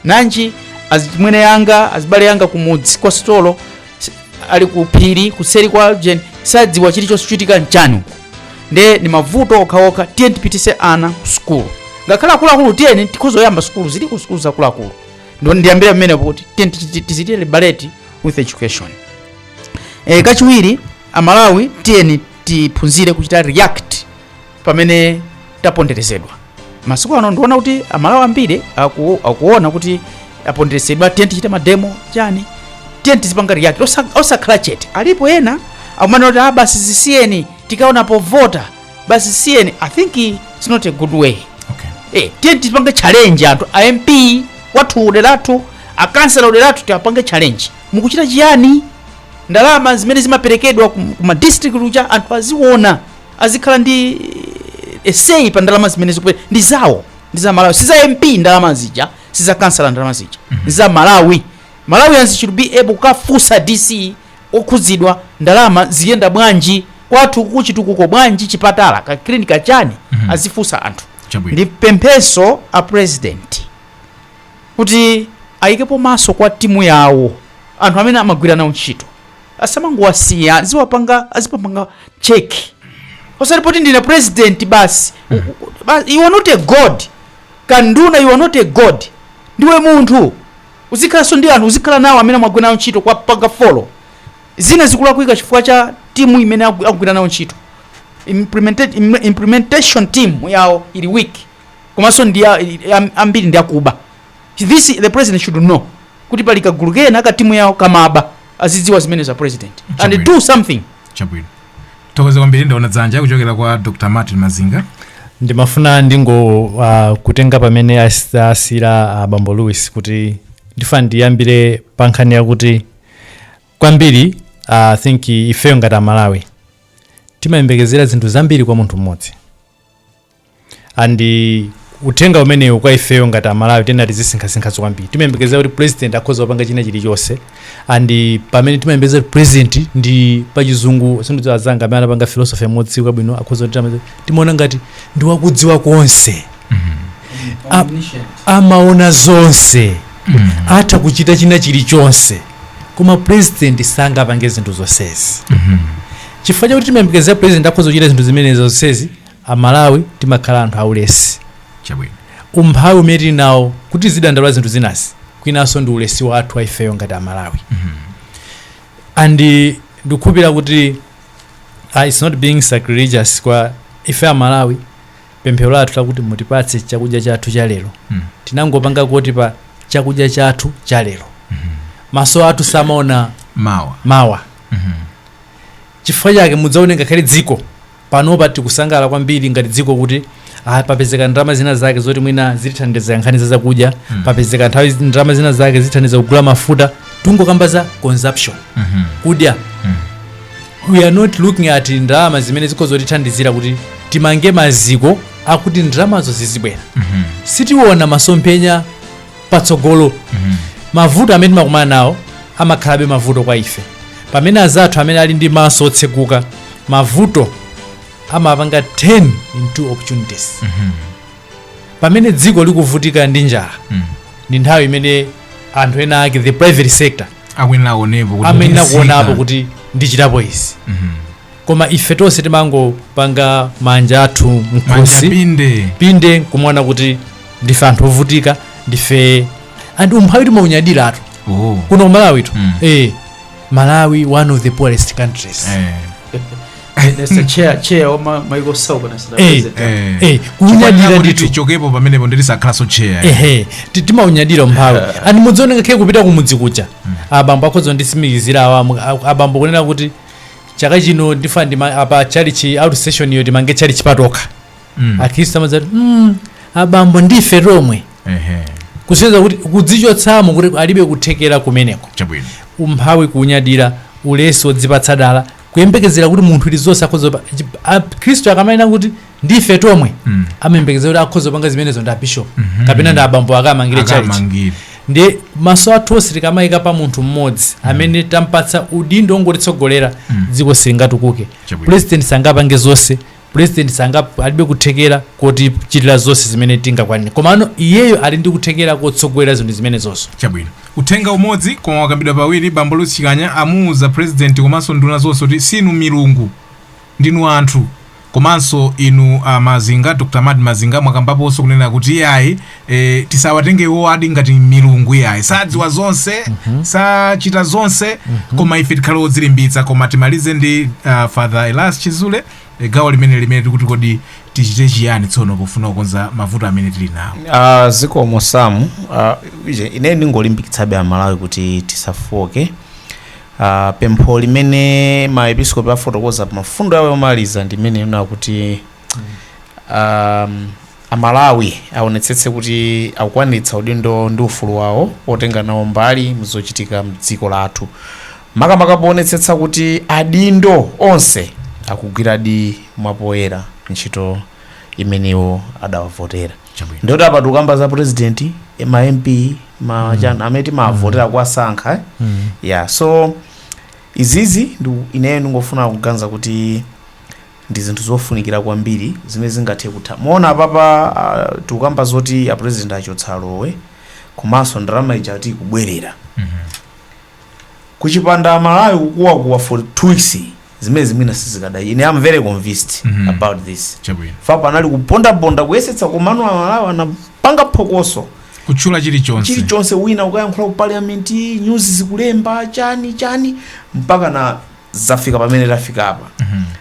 Nanji azimwene anga azibale anga kumudzi kwa sitolo si- ali ku phiri kuseri kwa jen sadziwa chilichonse chochitika nchani uko nde ni mavuto okhaokha tiye tipitise ana ku sukulu ngakhale akuluakulu tiyeni tikhoza kuyamba sukulu ziliko sukulu zakuluakulu ndiye ndiyambire pamenepo kuti tiye tidzichite liberate with education e, kachiwiri amalawi tiyeni tiphunzire kuchita react pamene taponderezedwa masiku ano ndiona kuti amalawi ambiri aku, akuona kuti aponderezedwa tiye tichite mademo chani tiyeni tizipanga react osa- osakhala chete alipo ena akumanena kuti ah basi zisiyeni tikaona povota basi zisiyeni i think it's not a good way okay. Eh, tiye tipange challenge anthu a mp athu kudera kwathu akansela kudera kwathu tiwapange challenge mukuchita chiyani ndalama zimene zimaperekedwa ku ku ma district kuja anthu aziona azikhala ndi say pa ndalama zimene zikuperekedwa ndi zawo ndi za malawi si za mp ndalama zija si za kansala ndalama zija ndi za malawi malawians should be able kukafunsa dc okhudzidwa ndalama ziyenda bwanji kwathu kuchitukuko bwanji chipatala ka clinic kachani Mhm. azifunsa anthu Chabwino. ndi pempheso a president kuti ayikepo maso kwa timu yawo anthu amene amagwira nawo ntchito asamangowasiya aziwapanga azipapanga check osati kuti ndine president basi Ba- you are not a god kanduna you are not a god ndiwe munthu uzikhalanso ndi anthu uzikhala nawo amene amagwira nawo ntchito kuwapanga follow zina zikulakwika chifukwa cha timu imene agu- akugwira nawo ntchito Implementa- im- implementation team yawo ili weak komanso ndi ya- am- ambiri ndi akuba this the president should know kuti pali kagulu kena ka timu yawo kamaba azidziwa zimenezo a president and Chabwino. do something chabwino tathokoza kwambiri ndaona dzanja kuchokera kwa dr martin mazinga ndimafuna ndingo uh, kutenga pamene as- asiyira uh, bambo louis kuti ndifuna ndiyambire pa nkhani yakuti kwambiri uh, i think ifeyo ngati amalawi timayembekezera zinthu zambiri kwa munthu mmodzi and uthenga umenewu kwa ifeyo ngati amalawi tiyeni tizisinkhasinkhaso kwambiri timayembekezera kuti president akhoza kupanga china chilichonse and pamene timayembekezera kuti president ndi pachizungu, sindidziwa azanga amene anapanga philosophy amadziwa bwino akhoza kuti tama- timaona ngati ndi wakudziwa zonse A- amaona zonse atha kuchita china chilichonse koma president sangapange zinthu zonsezi chifukwa chakuti timayembekezera president akhoza kuchita zinthu zimenezi zonsezi A Malawi timakhala anthu aulesi. Chabwino. Umphawi umene tili nawo kuti tizidandaula zinthu zinazi kwinanso ndi ulesi wathu wa ifeyo ngati a Malawi. And ndikukhulupira kuti uh, it's not being sacrilegious kwa ife a Malawi pemphero lathu lakuti mutipatse chakudya chathu cha lero. Mm. Tinangopanga kuti pa chakudya chathu cha lero. Maso athu samaona Mawa. mawa. Chifukwa chake mudzaone ngakhale dziko panopa tikusangalala kwambiri ngati dziko kuti ah, papezeka ndalama zina zake zoti mwina zitithandiza nkhani za zakudya mm. papezeka nthawi zi- ndalama zina zake zitithandiza kugula mafuta tungokamba za consumption mm -hmm. kudya mm. we are not looking at ndalama zimene zikhoza kutithandizira kuti timange maziko akuti ndalamazo zizibwera mm -hmm. sitiona masomphenya patsogolo mavuto amene timakumana nawo amakhalabe mavuto kwa ife pamene azathu amene ali ndi maso otseguka mavuto amapanga turn into opportunities pamene dziko likuvutika ndi njala ndi nthawi imene anthu ena ake the private sector amene akuonapo kuti ndichitapo izi koma ife tonse timangopanga manja athu manja mkhosi pinde pinde nkumaona kuti ndife anthu ovutika ndife and umphawi timaunyadiratu oh. kuno ku malawitu Mm. eh, malawi one of the poorest countries eh. Mr. Chair, Chair wa ma- my close neighbour South Eh, Africa. eh. Eh, kunyadira ndithu ndichokepo pamenepo ndisakhalenso cheya ehe ti- timaunyadira umphawi and mudzaone ngakhale kupita kumudzi kuja abambo akhoza nditsimikizira awa abambo kunena kuti chaka chino ndifuna ndi ma- apa tchalitchi out stationiyo timange tchalitchi patokha Mm. akhristu amadzati mm, abambo ndife tomwe Ehe. kusonyeza kuti kudzichotsamo kuti alibe kuthekera kumeneko chabwino umphawi kuunyadira ulesi wodzipatsa dala kuyembekezera kuti munthu iliyense akhoza pa- chi- a- khristu akamanena kuti ndife tomwe Mm. amayembekezera kuti akhoza kupanga zimenezo ndi abishop Mhm. kapena ndi abambo akamangire tchalitchi akamangire ndiye maso athu onse tikamayika pa munthu mmodzi amene tampatsa udindo wongotitsogolera Mm. dziko silingatukuke Chabwino. president sangapange zonse president sanga alibe kuthekera kotichitira zonse zimene tingakwanire komano iyeyo ali ndi kuthekera kotsogolera zinthu zimenezonso chabwino uthenga umodzi koma wakambidwa pawiri bambo likutcha amuuza president komanso nduna zonse kuti sinu milungu ndinu anthu komanso inu a mazinga Dr mary mazinga mwakambaponso kunena kuti iyayi e, tisawatenge iwowadi ngati milungu iyayi sadziwa zonse sachita zonse koma ife tikhale odzilimbitsa koma timalize ndi uh, father elias chizule e, gawo lomweli limene tikuti kodi tichite chiyani tsono pofuna kukonza mavuto amene tili nawo Uh, zikomo samu uh, ine ndingolimbikitsabe amalawi kuti tisafooke a Pempho limene maepiskopi afotokoza pa mfundo yawo yomaliza ndi imene ikunena kuti um, amalawi aonetsetse kuti akukwaniritsa udindo ndi ufulu wawo otenga nawo mbali mzochitika mdziko lathu makamaka poonetsetsa kuti adindo onse akugwiradi mwapoyera ntchito imene iwo adawavotera Chabwino. ndikuti apa tikukamba za president eh, ma mp ma chani amene timavotera kuwasankha eh? Mm. yeah so izizi ndi ineyo ndingofuna kuganiza kuti ndi zinthu zofunikira kwambiri zimene zingathe kutha mwaona apapa uh, tikukamba zoti apresident achotsa allowance komanso ndalama ija ati ikubwerera Mhm. kuchipanda amalawi kukuwakuwa for two weeks zimenezi mwina sizikada ine am very convinced Mhm. about this chabwino fa panali kupondaponda kuyesetsa komano amalawi anapanga phokoso kutchula chilichonse chilichonse wina kukayankhula ku parliament news zikulemba chani chani mpaka na zafika pamene tafikapa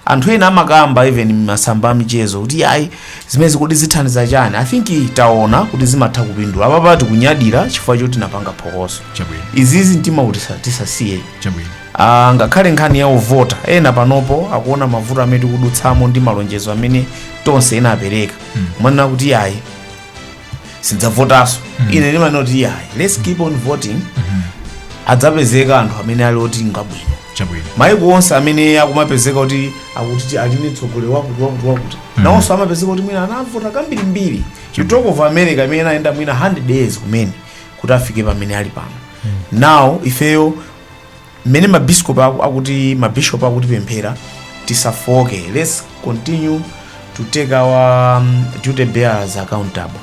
anthu ena amakamba even m'masamba amchezo kuti ayi zimenezi kodi zithandiza chani i think taona kuti zimatha kupindula apapa tikunyadira chifukwa choti napanga phokoso izizi mtima kuti sa- tisasiye Ah, ngakhale nkhani yovota ena panopo akuona mavuto amene tikudutsamo ndi malonjezo amene Tonse inapereka kumanena kuti ayi sindidzavotanso ine ndimanena kuti iyayi let's keep on voting adzapezeka anthu amene ali oti ngabwino maiko onse amene akumapezeka kuti akuti ali ndi mtsogoleri wakuti wakuti wakuti nawonso amapezeka kuti mwina anavota kambirimbiri you talk of america imene anayenda mwina 100 years kumene kuti afike pamene ali pano now ifeyo mmene ma biscop aku- akuti ma bishop akutipemphera tisafooke let's continue to take our um, duty bearers accountable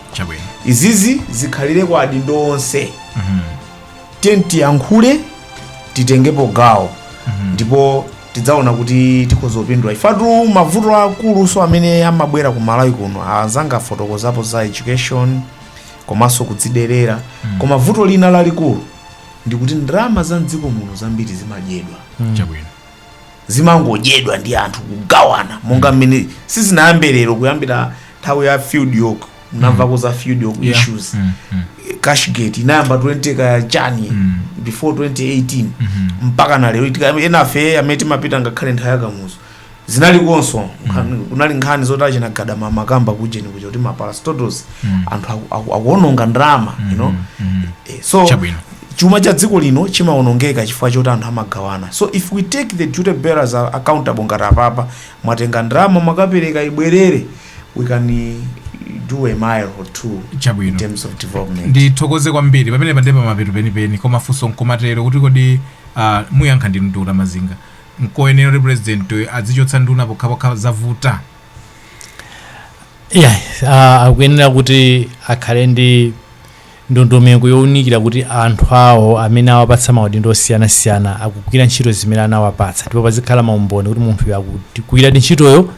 izizi zikhalire kwa adindo onse tiyeni tiyankhule titengepo gawo ndipo tidzaona kuti tikhoza kupindula ifetu mavuto akulunso amene amabwera ku malawi kuno azanga afotokozapo za education komanso kudziderera koma vuto lina lalikulu ndikuti ndalama za mdziko muno zambiri zimadyedwa zimangodyedwa ndi anthu kugawana monga mmene sizinayambe lero kuyambira nthawi ya field york munamvako za field york Yeah. issues Mm, mm. cashgate inayamba 20 ka chani before 2018 mpaka na lero Tika- enafe amene timapita ngakhale nthawi ya Kamuzu zinalikonso nkhan- kunali nkhani zoti achina gadama amakamba kujeni kuja kuti ma parastatals anthu aku- aku- akuononga ndalama you know Eh, so Chabwino. chuma cha dziko lino chimaonongeka chifukwa choti anthu amagawana so if we take the duty bearers accountable ngati apapa mwatenga ndalama mwakapereka ibwerere we can eh, do a mile or two in terms of development ndithokoze kwambiri pamene pali pamapeto penipeni koma funso nkomatero kuti kodi ah, muyankha ndinu Dr. Mazinga Nkoyenera kuti pulezidentiyu adzichotsa nduna pokhapokha zavuta? Iyayi, ah, akuyenera kuti akhale ndi ndondomeko younikira kuti anthu awo amene awapatsa maudindo osiyanasiyana akugwira ntchito zimene anawapatsa ndipo pazikhala maumboni kuti munthuyo akugwiradi ntchitoyo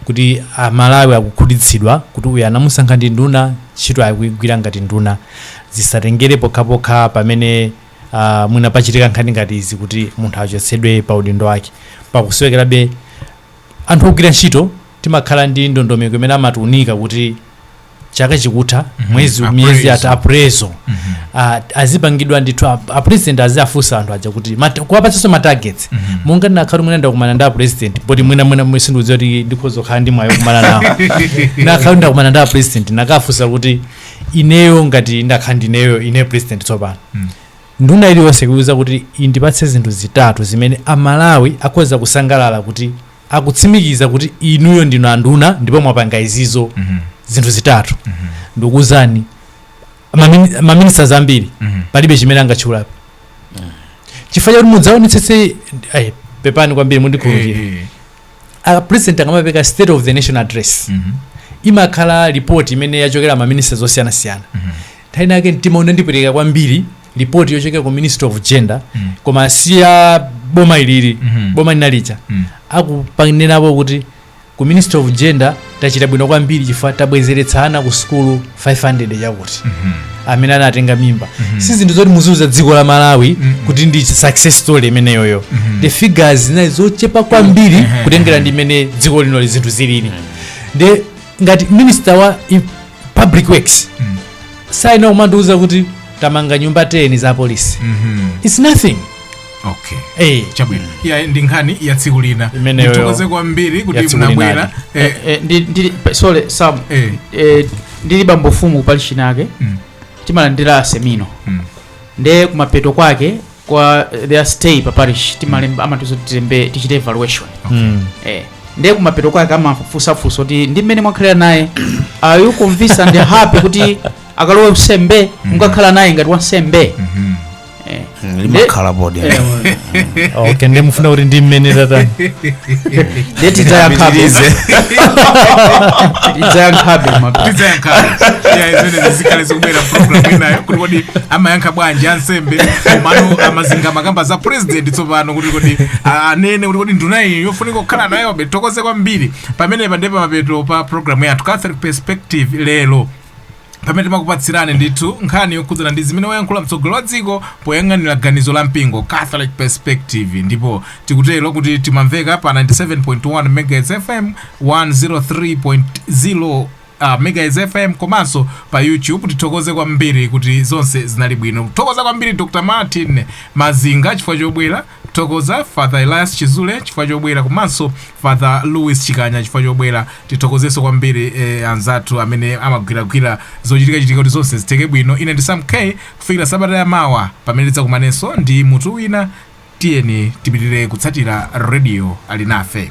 kuti amalawi akukhutitsidwa kuti uyu anamusankha ndi nduna ntchito akuyigwira ngati nduna zisatengere pokhapokha pamene uh, mwina pachitika nkhani ngati izi kuti munthu achotsedwe pa udindo wake pakusowekerabe anthu ogwira ntchito timakhala ndi ndondomeko imene amatiunika kuti chaka chikutha Mhm. mwezi miyezi ingati Appraisal. aprezo Mhm. Ah, azipangidwa ndithu ap- apresident aziafunsa anthu aja kuti mat- kuwapatsanso matargets Mhm. monga ndikanakhala mwina ndakumana ndi apresident poti mwina mwina mwe sindikudziwa kuti ndikhoza kukhala ndi mwayi wokumana nawo nkanakhala ndakumana ndi apresident nkanafunsa kuti ineyo ngati ndakhala ndineyo ine president tsopano Mm. nduna iliyonse kuiuza kuti indipatse zinthu zitatu zimene amalawi akhoza kusangalala kuti akutsimikiza kuti inuyo ndinu anduna ndipo mwapanga izizo Mhm. zinthu zitatu Mhm. ndikuuzani mamini- maministers ambiri Mhm. palibe chimene angatchulapo chifukwa chakuti mudzaonetsetse ai, pepani kwambiri mundikhululukire Eh, eh. a president akamapeka state of the nation address imakhala report imene yachokera ma ministries osiyanasiyana nthawi inake mtima unandipweteka kwambiri report yochokera ku ministry of gender koma si ya boma ilili Mhm. boma linalija akukanenerapo kuti ku ministry of gender tachita bwino kwambiri chifukwa tabwezeretsa ana ku sukulu 500 chakuti amene anatenga mimba si zinthu zoti muziuza dziko la malawi kuti ndi success story imeneyoyo the figures zinali zochepa kwambiri kutengera ndi mmene dziko lino zinthu zilili nde ngati minister wa i- public works azikandiuza kuti tamanga nyumba 10 za apolisi its nothing okay Eh. chabwino ya ndi nkhani ya tsiku lina Imeneyo. ndithokoze kwambiri kuti Yatsiku munabwera lina. Eh, Eh, eh, ndi- ndili- pa- sorry sam eh, eh, ndili bambo fumu pa parish inake Mm. timalandira aseminale Mm. nde kumapeto kwake kwa eh, their stay pa parish timalemba amatiuza tilembe tichite evaluation Mm. eh. nde kumapeto kwake amafunsafunsa kuti ndi mmene mwakhalira naye are you convinced and happy kuti akalowe unsembe mukakhala naye ngati wansembe mhm. Eh. Mm, limakhala bodi Eh, okay nde mufuna kuti ndi mmene tatani nde tidzayankhabe tidzayankhabe maka tidzayankhabe ya zimenezi zikhale zikubwera program inayo kuti kodi amayankha bwanji ansembe komano a Mazinga amakamba za president tsopano kuti kodi a- anene kuti kodi nduna iyi yofunika kukhala nayobe tithokoze kwambiri pamenepa ndi pamapeto pa program yathu catholic perspective lero pamene timakupatsirani ndithu nkhani yokhudzana ndi zimene wayankhula mtsogoleri wa dziko poyang'anira ganizo la mpingo catholic perspective ndipo tikutero kuti timamveka pa 97.1 megahertz fm 103.0 uh, megahertz fm komanso pa youtube tithokoze kwambiri kuti zonse zinali bwino tithokoza kwambiri dr martin mazinga chifukwa chobwera Tithokoza Father Elias Chizule chifukwa chobwera komanso Father Louis Chikanya chifukwa chobwera. Tithokozenso kwambiri eh, anzathu amene amagwiragwira zochitikachitika kuti zonse zitheke bwino. Ine ndi Sam K kufikira sabata ya mawa pamene tidzakumanenso ndi mutu wina. Tiyeni tipitirire kutsatira radio Alinafe.